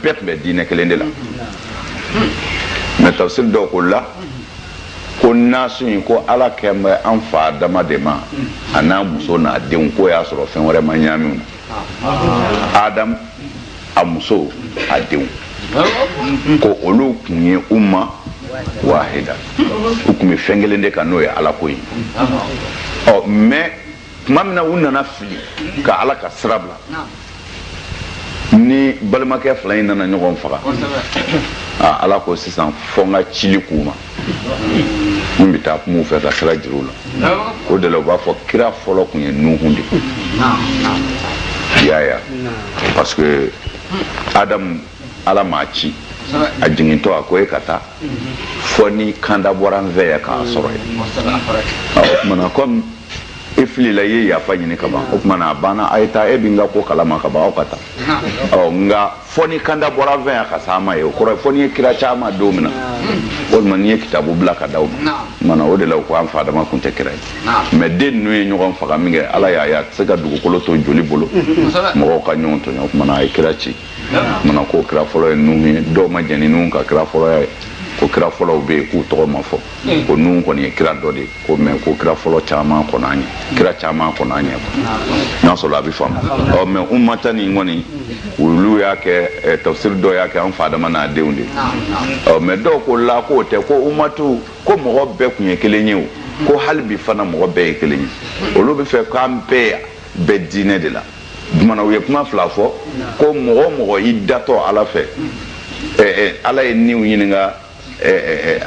bɛɛ tun bɛ diinɛ kelen de la mais tafsiri dɔw ko la ko nasu in ko ala kan bɛ an fa adama de ma a n'a muso n'a denw ko y'a sɔrɔ fɛn wɛrɛ ma ɲamin adamu a muso a denw ko olu tun ye umma wahida u tun bɛ fɛn kelen de kan n'o ye ala ko ye ɔ mais tuma min na u nana fili ka ala ka sira bila ni balimakɛ fila in nana ɲɔgɔn faga ala ko sisan fɔ n ka cili k'u ma min bɛ taa kuma u fɛ ka sira jira u la o de la u b'a fɔ kira fɔlɔ tun ye nuhun de ye y'a ye parce que adamu ala m'a ci a jigintɔ a ko e ka taa fɔ ni kanda bɔra n fɛ yan k'a sɔrɔ yen o tumana comme e filila i ye yafa ɲini ka ban o tumana a banna a ye taa e bɛ n ka ko kalama ka ban aw ka taa ɔ nka fɔ ni kanda bɔra n fɛ yan ka s'a ma yen o kɔrɔ fɔ ni n ye kira c'aw ma don min na walima ni n ye kitabu bila ka d'aw ma mana o de la u ko an fa adama kun tɛ kira ye mais den ninnu ye ɲɔgɔn faga min kɛ ala y'a ye a tɛ se ka dugukolo to joli bolo mɔgɔw ka ɲɔgɔn tɔɲɔ o tumana a ye kira ci mana ko kira fɔlɔ ye nuhu ye dɔw ma jɛn ni nuhu ka kira fɔlɔya ye ko kira fɔlɔw bɛ yen k'u tɔgɔ ma fɔ hmm. ko nuhu kɔni ye kira dɔ de ko mɛ ko kira fɔlɔ caman kɔnɔ an ye kira caman kɔnɔ an ye n'a sɔrɔ a bɛ faamu ɔ mɛ ummata nin kɔni olu y'a kɛ tafsiri dɔw y'a kɛ an fa adama n'a denw de ɔ mɛ dɔw ko la k'o tɛ ko ummatu ko mɔgɔ bɛɛ tun ye kelen ye o ko hali bi fana mɔgɔ bɛɛ ye kelen ye olu b'a fɛ k'an bɛɛ bɛ diinɛ de la o tumana u ye kuma fila fɔ ko mɔgɔ mɔgɔ i datɔ ala fɛ ala ye niw ɲininka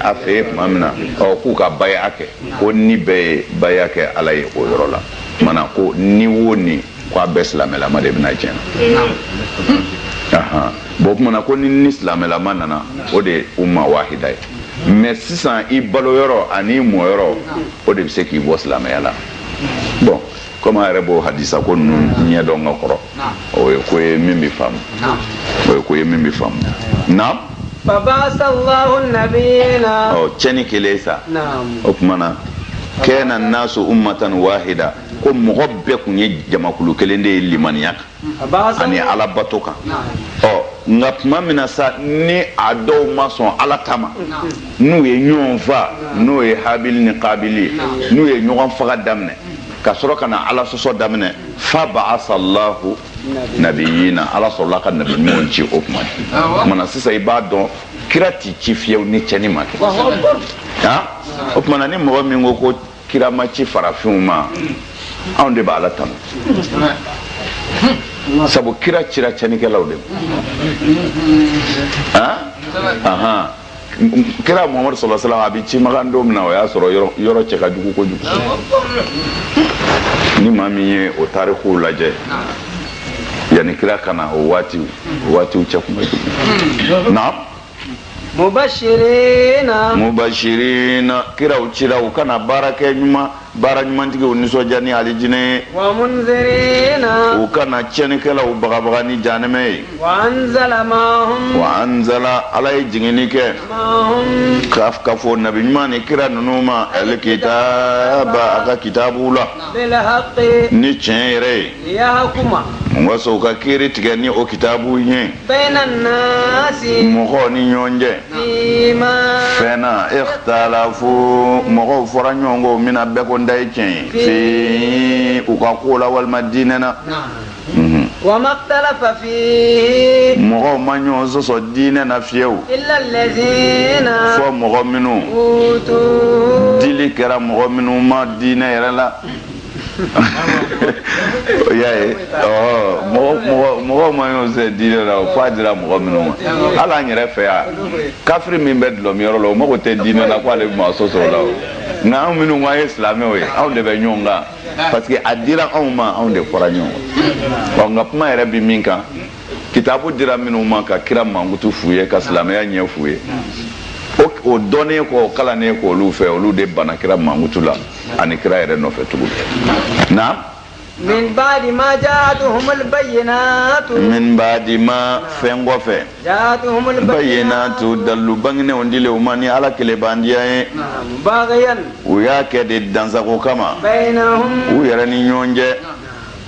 a fɛ yen tuma min na k'u ka baya kɛ ko ni bɛɛ ye baya kɛ ala ye o yɔrɔ la o tumana ko ni wo ni ko a bɛɛ silamɛlama de bɛ na diɲɛ na bɔn o tumana ko ni ni silamɛlama nana o de ye umma wahida ye mɛ sisan i balo yɔrɔ ani i mɔ yɔrɔ o de bɛ se k'i bɔ silamɛya la bɔn komi an yɛrɛ b'o hadisa ko ninnu ɲɛdɔn ka kɔrɔ o ye ko ye min bɛ faamu o ye ko ye min bɛ faamu naamu cɛni kɛlen sa o tuma na kana nasu ummatan wahida ko mɔgɔ bɛɛ tun ye jamakulu kelen de ye limaniya kan ani ala bato kan ɔ nka tuma min na sa ni a dɔw ma sɔn ala ta ma n'u ye ɲɔgɔn fa n'o ye habili ni kabili ye n'u ye ɲɔgɔn faga daminɛ ka sɔrɔ ka na ala sɔsɔ daminɛ fa ba'asallahu nabiyina ala sɔrɔla ka nabi ɲumanw ci o kuma o kumana sisan i b'a dɔn kira ti ci fiyewu ni cɛni ma kɛ o kumana ni mɔgɔ min ko ko kira ma ci farafinw ma anw de b'ala tanu sabu kira cira cɛnikɛlaw de ma kira muhamadu sallallahu alaihi wasallam a bɛ ci makan don min na o y'a sɔrɔ yɔrɔ cɛ ka jugu kojugu ni maa min ye o tarikuw lajɛ yanni kira ka na o waatiw o waatiw cɛ kun bɛ jugu na mubashirina mubashirina kiraw cira u ka na baara kɛ ɲuman baara ɲumantigiw nisɔndiya ni alijinɛ ye wa munzirina u ka na cɛnikɛlaw bagabaga ni jahanɛmɛ ye wa anzala ma'ahum wa anzala ala ye jiginni kɛ ma'ahum ka ka fɔ nabi ɲuman ni kira ninnu ma alikitaba a ka kitabuw la bilhaqi ni tiɲɛ yɛrɛ ye liyahkuma waasa u ka kiri tigɛ ni o kitabu ye bayna nasi mɔgɔw ni ɲɔgɔn cɛ fima fɛn na ikhtalafu mɔgɔw fɔra ɲɔgɔn kɔ min na bɛɛ ko n ta ye tiɲɛ ye fi u ka ko la walima diinɛ na Mhm. wama ikhtalafa fihi mɔgɔw ma ɲɔgɔn sɔsɔ diinɛ na fiyewu illa allazina fo mɔgɔ minnu utu dili kɛra mɔgɔ minnu ma diinɛ yɛrɛ la o y'a ye mɔgɔw ma ɲɔgɔn sɔsɔ diinɛ la f'a dira mɔgɔ minnu ma hali an yɛrɛ fɛ yan kafiri min bɛ dɔlɔminyɔrɔ la o mago tɛ diinɛ la ko ale bɛ maa sɔsɔ o la o nka anw minnu ko an ye silamɛw ye anw de bɛ ɲɔgɔn kan parce que a dira anw ma anw de fɔra ɲɔgɔn kɔ nka kuma yɛrɛ bɛ min kan kitabu dira minnu ma ka kira mankutu f'u ye ka silamɛya ɲɛ f'u ye o dɔnnen kɔ o kalannen kɔ olu fɛ olu de bana kira mankutu la ani kira yɛrɛ nɔfɛ tugun na min baadi ma jaatuhumul bayyinaatu min baadi ma fɛn kɔfɛ jaatuhumul bayyinaatu dalilu bangenenw dilen u ma ni ala kelebandiya ye bagiyan u y'a kɛ de dansagon kama baynahum u yɛrɛ ni ɲɔgɔn cɛ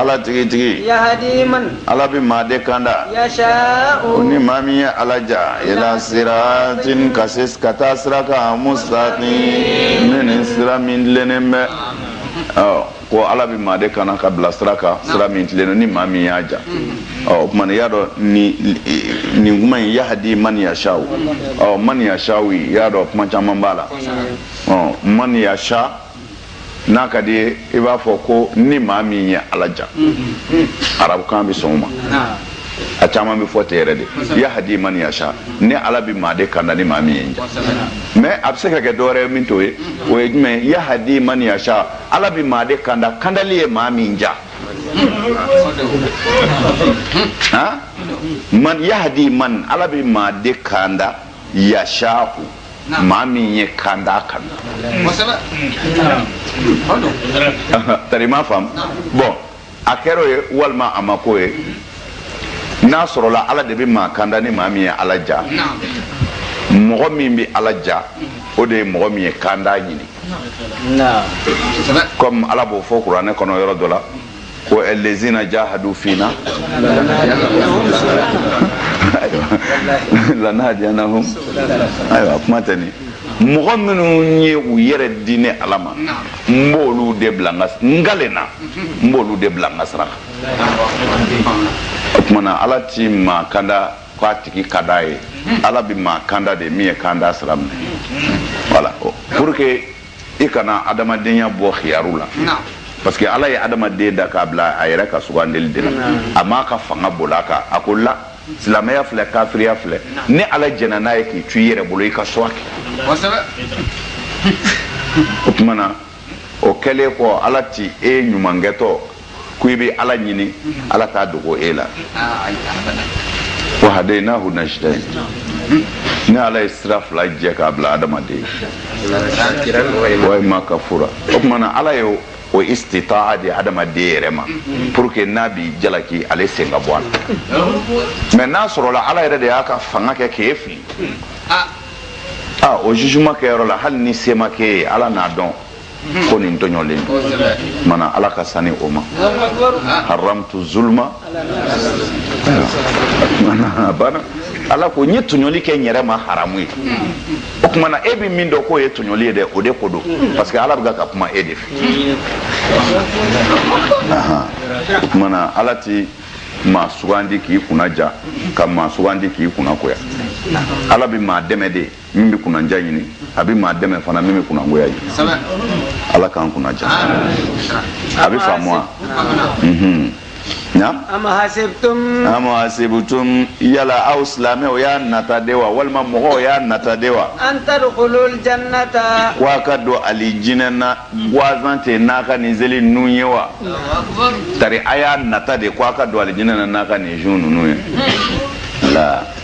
ala tigitigi ala bɛ maa de kanda o ni maa min ye ala ja ila siratin ka se ka taa sira kan musitakimin sira min tilennen bɛ ko ala bɛ maa de kanda ka bila sira kan sira min tilennen ni maa min y'a ja o tuma i y'a dɔn nin kuma in yahadi man yasa o man yasa y'a dɔn kuma caman b'a la man yasa n'a ka d'i ye i b'a fɔ ko ni maa min ye ala ja arabukan bɛ sɔn o ma a caman bɛ fɔ ten yɛrɛ de yahadi man yasa ni ala bɛ maa de kanda ni maa min y'a ja mais a bɛ se ka kɛ dɔwɛrɛ ye min t'o ye o ye jumɛn yahadi man yasa ala bɛ maa de kanda kandali ye maa min ja man yahadi man ala bɛ maa de kanda yasa maa min ye kanda kanu tari ma faamu bon a kɛra o ye walima a ma k'o ye n'a sɔrɔla ala de bɛ maa kanda ni maa min ye ala ja mɔgɔ min bɛ ala ja o de ye mɔgɔ min ye kanda ɲini kɔmi ala b'o fɔ kuranɛ kɔnɔ yɔrɔ dɔ la ko alezina jahadu fina lanahadiyanahum ayiwa kuma tɛ nin mɔgɔ minnu ye u yɛrɛ di ne ala ma n b'olu de bila n galen na n b'olu de bila n ka sira kan o tumana ala ti maa kanda k'a tigi ka d'a ye ala bɛ maa kanda de min ye kanda sira minɛ voilà pour que i kana adamadenya bɔ khiyaru la parce que ala ye adamaden da k'a bila a yɛrɛ ka sugandeli de la a m'a ka fanga bol'a kan a ko la silamɛya filɛ kafiriya filɛ ni ala jɛnna n'a ye k'i to i yɛrɛ bolo i ka choix kɛ o tuma na o kɛlen kɔ ala ti e ye ɲuman kɛtɔ ko i bɛ ala ɲini ala t'a dogo e la wa hadaynahu najdain ni ala ye sira fila jɛ k'a bila adamaden wa ma kafura o tuma na ala ye o istitaa di adamaden yɛrɛ ma pour que n'a b'i jalaki ale sen ka bɔ a la mais n'a sɔrɔla ala yɛrɛ de y'a ka fanga kɛ k'e fili ah o jugement kɛyɔrɔ la hali ni se ma k'e ye ala n'a dɔn ko nin tɔɲɔlen don o tuma na ala ka sani o ma haramtu zulma a banna ala ko n ye tɔɲɔli kɛ n yɛrɛ ma haramu ye o tuma na e bɛ min dɔn k'o ye tɔɲɔli ye dɛ o de ko don parce que ala bɛ ka kuma e de fɛ o tuma na ala ti maa sugandi k'i kunnadiya ka maa sugandi k'i kunnagoya ala bɛ maa dɛmɛ de min bɛ kunnandiya ɲini a bɛ maa dɛmɛ fana min bɛ kunnangoya ɲini ala k'an kunnadiya a bɛ faamu wa naam am hasibtum yala aw silamɛw y'a nata de wa walima mɔgɔw y'a nata de wa an tadkhulul jannata ko a ka don alijinɛ na gwansan cɛ n'a ka nin seli ninnu ye wa tari a y'a nata de ko a ka don alijinɛ na n'a ka nin sun ninnu ye wa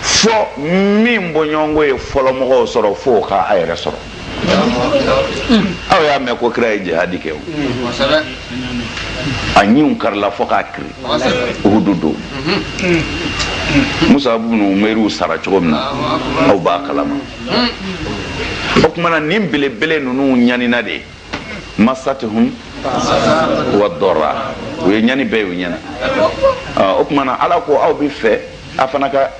fo min bɔɲɔgɔnko ye fɔlɔmɔgɔw sɔrɔ fo o ka a yɛrɛ sɔrɔ aw y'a mɛn ko kira ye jihadi kɛ o a ɲinw karila fo k'a kiri uhudu don musabu bunu umeriw sara cogo min na aw b'a kalama o tuma na nin belebele ninnu ɲanina de masatuhum wa dara u ye ɲani bɛɛ y'u ɲɛ na o tuma na ala ko aw b'a fɛ a fana ka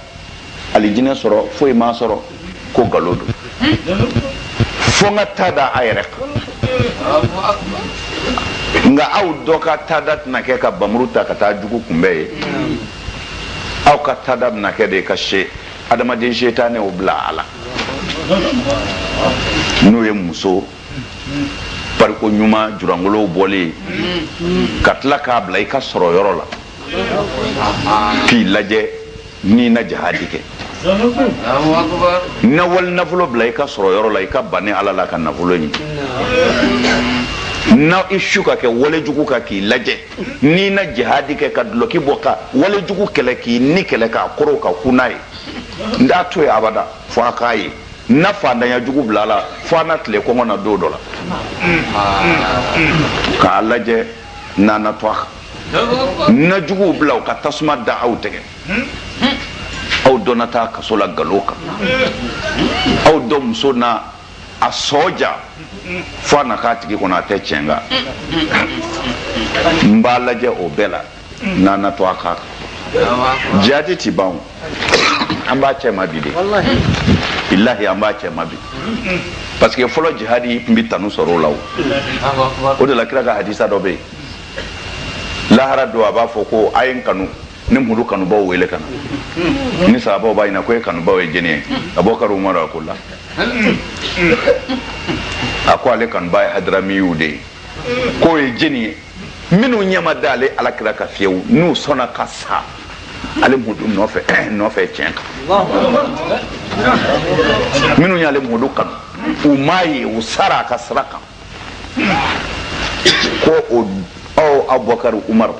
alijinɛ sɔrɔ foyi m'a sɔrɔ ko nkalon don fo n ka ta da a yɛrɛ kan nka aw dɔ ka taada tɛna kɛ ka bamuru ta ka taa jugu kunbɛn ye aw ka taada bɛna kɛ de ka se adamaden setanɛw bila a la n'o ye muso pariko ɲuman julankolonw bɔlen ka tila k'a bila i ka sɔrɔ yɔrɔ la k'i lajɛ n'i na jahadi kɛ na wali nafolo bila i ka sɔrɔ yɔrɔ la i ka ban ni ala la ka nafolo ɲini na i su ka kɛ walejugu kan k'i lajɛ n'i na jihadi kɛ ka dulɔki bɔ ka walejugu kɛlɛ k'i ni kɛlɛ k'a koron ka kun n'a ye n t'a to ye abada fo a k'a ye na faantanya jugu bila a la fo a na tile kɔngɔ na don dɔ la k'a lajɛ n'a na to a kan n na juguw bila u ka tasuma da aw tɛgɛ aw dɔ na taa kaso la galo kan aw dɔ muso na a sɔɔ ja fo a na k'a tigi kɔnɔ a tɛ tiɲɛ kan n b'a lajɛ o bɛɛ la n'a na to a kan jihadi ti ban an b'a cɛ ma bi de bilahi an b'a cɛ ma bi parce que fɔlɔ jihadi tun bɛ tanu sɔrɔ o la o o de la kira ka hadisa dɔ bɛ yen lahara don a b'a fɔ ko a ye n kanu ne mudu kanubaw wele ka na ni sahabaw b'a ɲina ko e kanubaw ye jɛni ye abubakari umaru a ko la a ko ale kanuba ye hadaramiyiw de ye k'o ye jɛni ye minnu ɲɛ ma da ale ala kira kan fiyewu n'u sɔnna ka sa ale mudu nɔfɛ tiɲɛ kan minnu y'ale mudu kanu u m'a ye u sara a ka sira kan ko o aw abubakari umaru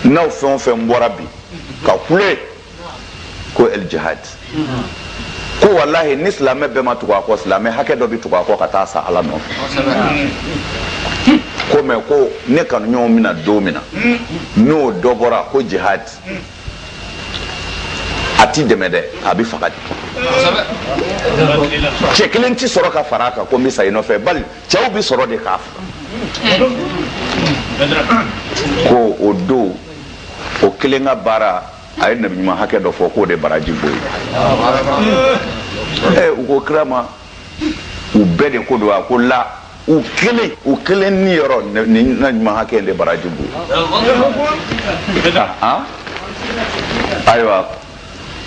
n'aw fɛn o fɛn bɔra bi ka kule ko el jihad ko walahi ni silamɛ bɛɛ ma tugu a kɔ silamɛ hakɛ dɔ bɛ tugu a kɔ ka taa sa ala nɔfɛ ko mɛ ko ne kanuɲɔgɔnw bɛna don min na n'o dɔ bɔra ko jihad a ti dɛmɛ dɛ a bɛ faga de cɛ kelen tɛ sɔrɔ ka fara a kan ko n bɛ sa i nɔfɛ bali cɛw bɛ sɔrɔ de k'a faga ko o don o kelen ka baara a ye nabi ɲuman hakɛ dɔ fɔ k'o de baraji b'o ye u ko kira ma u bɛɛ de ko don a ko la u kelen u kelen niyɔrɔ nin na ɲuman hakɛ de baraji b'o ye ayiwa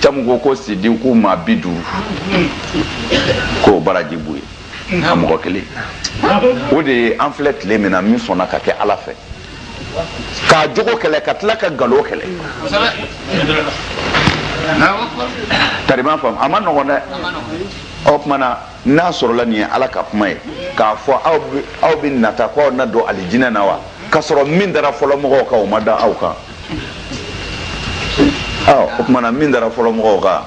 caman ko ko sidiku maa bi duuru k'o baraji b'o ye a mɔgɔ kelen o de ye an filɛ tile min na min sɔnna ka kɛ ala fɛ k'a jogo kɛlɛ ka tila ka galo kɛlɛ tari i m'a faamu a man nɔgɔn dɛ o tuma na n'a sɔrɔla nin ye ala ka kuma ye k'a fɔ aw bɛ nata ko aw na don alijinɛ na wa ka sɔrɔ min dara fɔlɔ mɔgɔw kan o ma da aw kan o tuma na min dara fɔlɔ mɔgɔw kan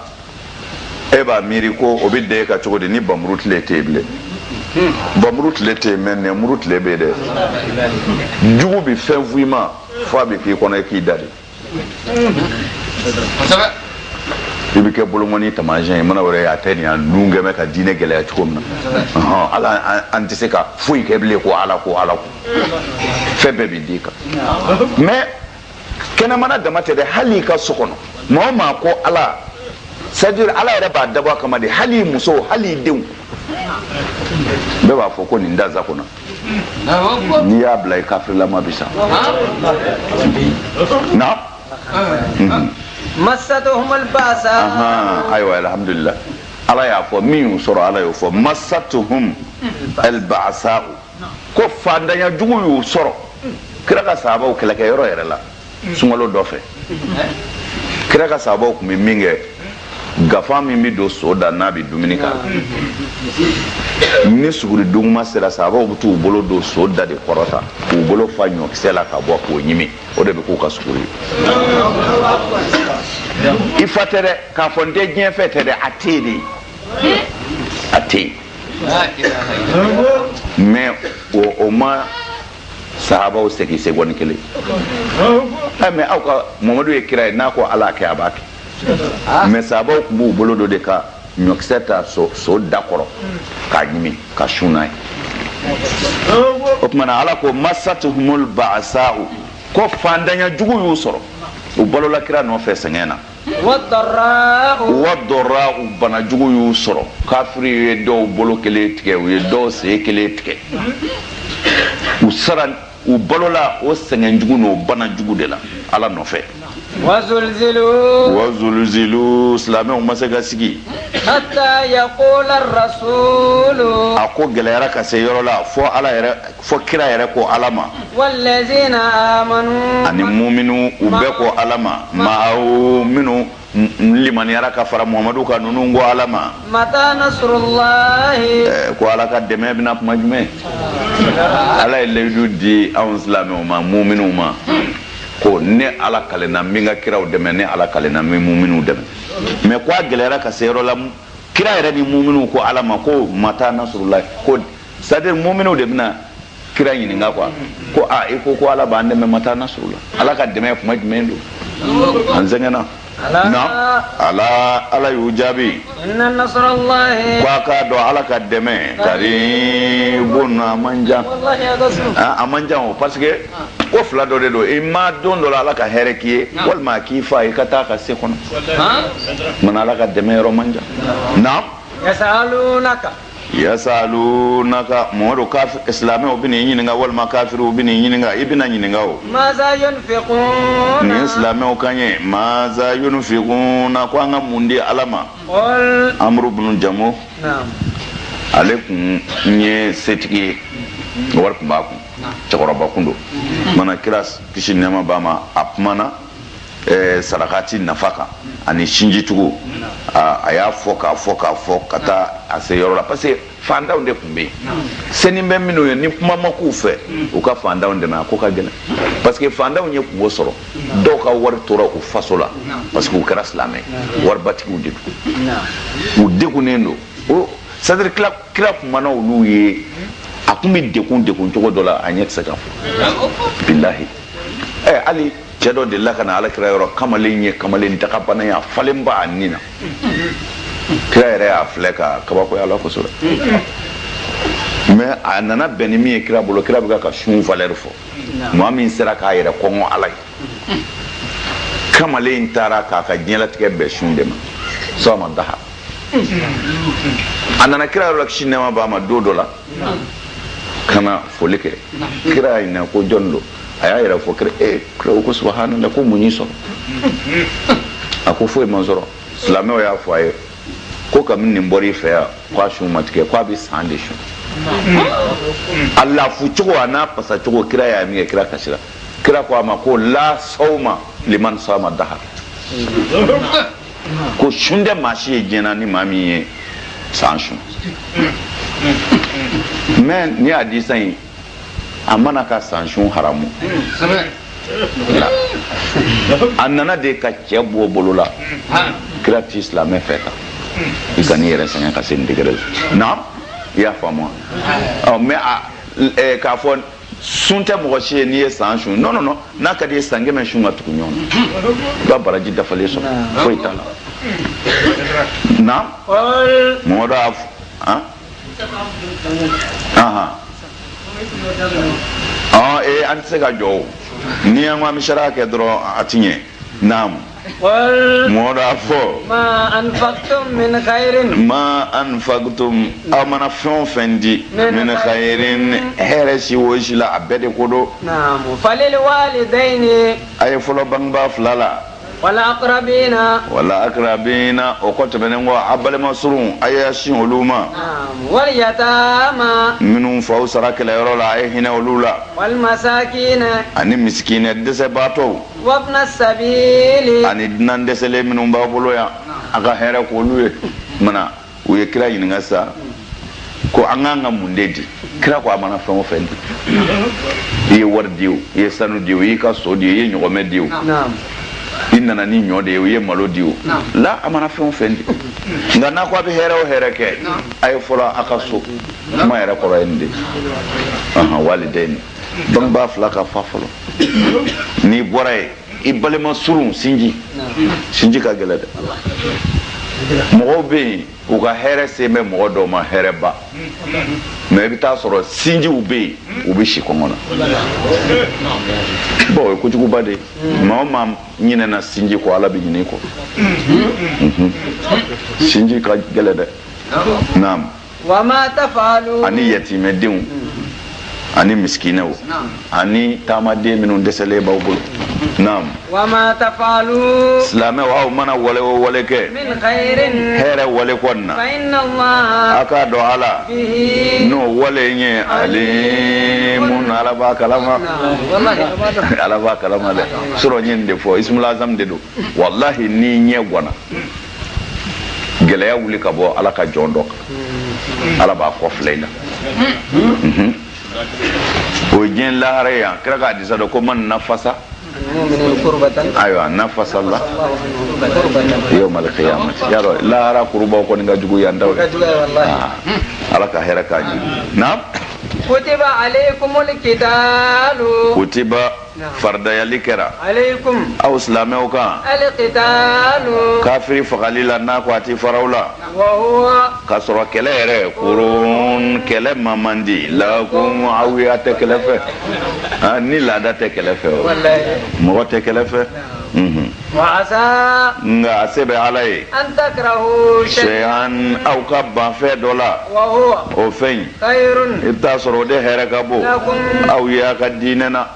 e b'a miiri ko o bɛ da e kan cogo di ni bamuru tile tɛ yen bilen bamuru tile tɛ yen mɛ nɛnmuru tile bɛ yen dɛ jugu bɛ fɛn f'i ma f'a bɛ k'i kɔnɔ i k'i da de i bɛ kɛ bolonkɔni taamasiyɛn ye mana wɛrɛ a tɛ nin yan nun kɛmɛ ka diinɛ gɛlɛya cogo min na ala an tɛ se ka foyi kɛ bilen ko ala ko ala ko fɛn bɛɛ bɛ di kan mɛ kɛnɛmana dama tɛ dɛ hali i ka so kɔnɔ maa o maa ko ala c'est-à-dire ala yɛrɛ b'a dabɔ a kama de hali muso hali denw bɛɛ b'a fɔ ko nin da za kɔnɔ n'i y'a bila i kafirilama bi sa naam masatuhum albasa ayiwa alhamdulillah ala y'a fɔ min y'u sɔrɔ ala y'o fɔ masatuhum albasa'u ko faantanya jugu y'u sɔrɔ kira ka sahabaw kɛlɛkɛ yɔrɔ yɛrɛ la sunkalo dɔ fɛ kira ka sahabaw tun bɛ min kɛ gafa min bɛ don so da n'a bɛ dumuni k'a la ni suguri duguma sera sahabaw bɛ t'u bolo don so da de kɔrɔ tan k'u bolo fa ɲɔkisɛ la ka bɔ k'o ɲimi o de bɛ k'u ka suguri i fɔ tɛ dɛ k'a fɔ n tɛ diɲɛ fɛ tɛ dɛ a tɛ yen de a tɛ yen mais o ma sahabaw segin segɔni kelen eh, mais aw ka mamadu ye kira ye n'a ko ala kɛ a b'a kɛ mais sahabaw tun b'u bolo don de ka ɲɔkisɛ ta so da kɔrɔ k'a ɲimi ka sun n'a ye o tuma na ala ko masatuhumul ba'asa'u ko faantanya jugu y'u sɔrɔ u balola kira nɔfɛ sɛgɛn na wadɔra'u banajugu y'u sɔrɔ kafiriw ye dɔw bolo kelen tigɛ u ye dɔw sen kelen tigɛ u sara u balola o sɛgɛnjugu n'o banajugu de la ala nɔfɛ wazulzilu silamɛw ma se ka sigi a ko gɛlɛyara ka se yɔrɔ la fo ala yɛrɛ fo kira yɛrɛ ko ala ma ani muminuw bɛɛ ko ala ma maa minnu limaniyara ka fara muhamadu kan ninnu ko ala ma eh, ko ala ka dɛmɛ bɛ na kuma jumɛn ala ye layidu di anw silamɛw ma muminuw ma ko ne ala kalenna n bɛ n ka kiraw dɛmɛ ne ala kalenna n bɛ muminuw dɛmɛ mais ko a gɛlɛyara ka se yɔrɔ la kira yɛrɛ ni muminuw ko ala ma ko mata nasurulayi ko c'est-à-dire muminuw de bɛna kira ɲininka quoi ko a i ko ko ala b'an dɛmɛ mata nasurula ala ka dɛmɛ kuma jumɛn don an sɛgɛnna na ala ala y'u jaabi ko a k'a dɔn ala ka dɛmɛ karibun a man jan a man jan o parce que ko fila dɔ de don ima don dɔ la ala ka hɛrɛ k'i ye walima a k'i faa i ka taa ka se kɔnɔ mana ala ka dɛmɛ yɔrɔ man jan na yasalu naka mamadu silamɛw bɛ n'i ɲininka walima kafiriw bɛ n'i ɲininka i bɛna ɲininka o nin ye silamɛw kan ye maza yunfikuna ko an ka mun di ala ma amuru bunu jamu ale kun ye setigi ye wari kun b'a kun cɛkɔrɔba kun don mana kira kisi nɛma b'a ma a kumana sarakati nafa kan ani sinjitugu a y'a fɔ k'a fɔ k'a fɔ ka taa a se yɔrɔ la parce que fantanw de tun bɛ yen senin bɛ minnu ye ni kuma ma k'u fɛ u ka fantanw dɛmɛ a ko ka gɛlɛn parce que fantanw ye kunko sɔrɔ dɔw ka wari tora u faso la parce que u kɛra silamɛ waribatigiw de don u degunnen don c'est-à-dire kira kumana olu ye a kun bɛ degun degun cogo dɔ la a ɲɛ tɛ se ka fɔ bilahi ɛ hali cɛ dɔ delila ka na alakira yɔrɔ kamalen ye kamalen dagabana ye a falenba a ni na kira yɛrɛ y'a filɛ ka kabakoya a la kosɛbɛ mais a nana bɛn ni min ye kira bolo kira bɛ ka sun valeur fɔ maa min sera k'a yɛrɛ kɔngɔ ala ye kamalen in taara k'a ka diɲɛlatigɛ bɛɛ sun de ma sawma daha a nana kira yɔrɔ la kisi nɛma b'a ma don dɔ la ka na foli kɛ kira y'a ɲininka ko jɔn don a y'a yɛrɛ fɔ kira ye kira ko subahanala ko mun y'i sɔrɔ a ko foyi m'a sɔrɔ silamɛw y'a fɔ a ye ko kabini nin bɔra i fɛ yan k'a sun ma tigɛ k'a bɛ san de sun a lafu cogo a n'a pasa cogo kira y'a ye minkɛ kira kasira kira ko a ma ko la sawma liman sama daha ko sun tɛ maa si ye diɲɛ na ni maa min ye san sun mais nin hadisi in a ma na ka san sun haramu a nana de ka cɛ bɔ bolo la kira ti silamɛ fɛ tan i kan'i yɛrɛ sɛgɛn ka se nin degré la na i y'a faamu wa mais k'a fɔ sun tɛ mɔgɔ si ye n'i ye san sun non non non n'a ka d'i ye san kɛmɛ sun ka tugu ɲɔgɔn na i b'a baraji dafalen sɔrɔ foyi t'a la naamu mamadu a fɔ han ahan ɔn ee an tɛ se ka jɔ o n'i y'an ka misaliya kɛ dɔrɔn a ti ɲɛ naamu mamadu a fɔ ma anfakutum aw mana fɛn o fɛn di min kayirin hɛrɛ si o si la a bɛɛ de ko don a ye fɔlɔ bangebaa fila la wal akirabina o kɔ tɛmɛnen kɔ a balima surun a y'a sin olu ma minnu faw sara kɛlɛyɔrɔ la a ye hinɛ olu la ani misikinɛ dɛsɛbaatɔ wabni sabili ani dunan dɛsɛlen minnu b'a bolo yan a ka hɛrɛ k'olu ye mana u ye kira ɲininka sa ko an k'an ka mun de di kira ko a mana fɛn o fɛn di i ye wari di o i ye sanu di o i y'i ka so di o i ye ɲɔgɔmɛ di o i nana ni ɲɔ de ye i ye malo di o la a mana fɛn o fɛn di nka n'a ko a bɛ hɛrɛ o hɛrɛ kɛ a ye fɔlɔ a ka so kuma yɛrɛ kɔrɔ ye nin de ye walidaini bangebaa fila ka fa fɔlɔ n'i bɔra ye i balima surun sinji sinji ka gɛlɛn dɛ mɔgɔw bɛ yen u ka hɛrɛ sen bɛ mɔgɔ dɔw ma hɛrɛba mɛ i bɛ taa sɔrɔ sinjiw bɛ yen u bɛ si kɔngɔ na bɔn o ye kojuguba de maa o maa ɲinɛna sinji kɔ ala bɛ ɲin'i kɔ sinji ka gɛlɛn dɛ naamu ani yatimɛdenw ani misikinɛw ani taamaden minnu dɛsɛlen b'aw bolo naam wama tafalu silamɛw aw mana wale o wale kɛ hɛrɛ wale kɔnɔna a k'a dɔn ala n'o wale in ye alimun ala b'a kalama ala b'a kalama dɛ surɔ n ye nin de fɔ ismul azam de don walahi n'i ɲɛ gwana gɛlɛya wuli ka bɔ ala ka jɔn dɔ kan ala b'a kɔ filɛ i la mhm. o ye diɲɛ lahara ye yan kira ka hadisa dɔ ko man nafasa kurbatan ayiwa nafasalla yaumal kiyamati y'a dɔn lahara kurubaw kɔni ka jugu yan taw ah, ala ka hɛrɛ k'an ye naam kutiba alaikumul kitalu kutiba faridayali kɛra aw silamɛw kan kafiri fagali la n'a ko a tɛ far'aw la ka sɔrɔ kɛlɛ yɛrɛ kuruhun kɛlɛ ma man di lakum aw ye a tɛ kɛlɛ fɛ ni laada tɛ kɛlɛ fɛ o mɔgɔ tɛ kɛlɛ fɛ nka a se bɛ ala ye shay'an aw ka ban fɛn dɔ la o fɛn in i bɛ t'a sɔrɔ o de hɛrɛ ka bon aw ye a ka diinɛ na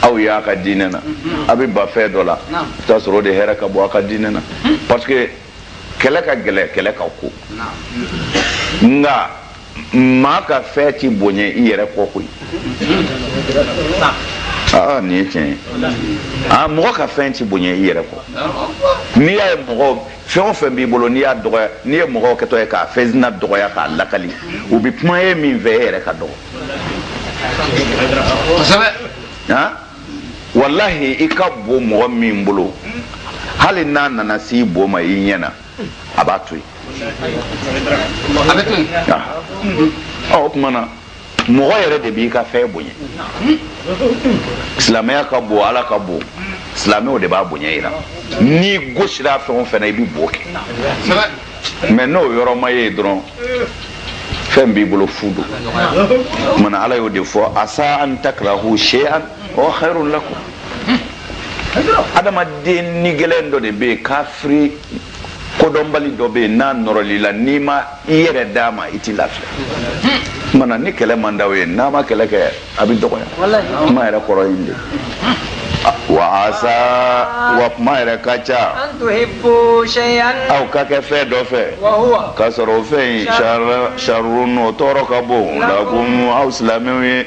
aw ye a ka diinɛ na a bɛ ban fɛn dɔ la i bɛ t'a sɔrɔ o de hɛrɛ ka bon a ka diinɛ na parce que kɛlɛ ka gɛlɛn kɛlɛ ka ko nka maa ka fɛn tɛ bonya i yɛrɛ kɔ koyi aa nin ye tiɲɛ ye aa mɔgɔ ka fɛn tɛ bonya i yɛrɛ kɔ n'i y'a ye mɔgɔ fɛn o fɛn b'i bolo n'i y'a dɔgɔya n'i ye mɔgɔw kɛtɔ ye k'a fɛn sina dɔgɔya k'a lakali u bɛ kuma ye min fɛ e yɛrɛ ka dɔgɔ walahi i ka bon mɔgɔ min bolo hali n'a nana s'i bo ma i ɲɛ na a b'a to yen a bɛ to yen ɔ o tuma na mɔgɔ yɛrɛ de b'i ka fɛn bonya silamɛya ka bon ala ka bon silamɛw de b'a bonya yira n'i gosira fɛn o fɛn na i bɛ bo kɛ mais n'o yɔrɔ ma ye dɔrɔn fɛn b'i bolo fu don mana ala y'o de fɔ asa an takrahu shay'an wa khairun lakum adamaden ni gɛlɛn dɔ de bɛ yen kafiri kodɔnbali dɔ bɛ yen n'a nɔrɔl'i la n'i ma i yɛrɛ d'a ma i tɛ lafiya mana ni kɛlɛ man d'aw ye n'a ma kɛlɛ kɛ a bɛ dɔgɔya kuma yɛrɛ kɔrɔ ye de wa asa wa kuma yɛrɛ ka ca aw ka kɛ fɛn dɔ fɛ k'a sɔrɔ o fɛn in sharrun o tɔɔrɔ ka bon lakum aw silamɛw ye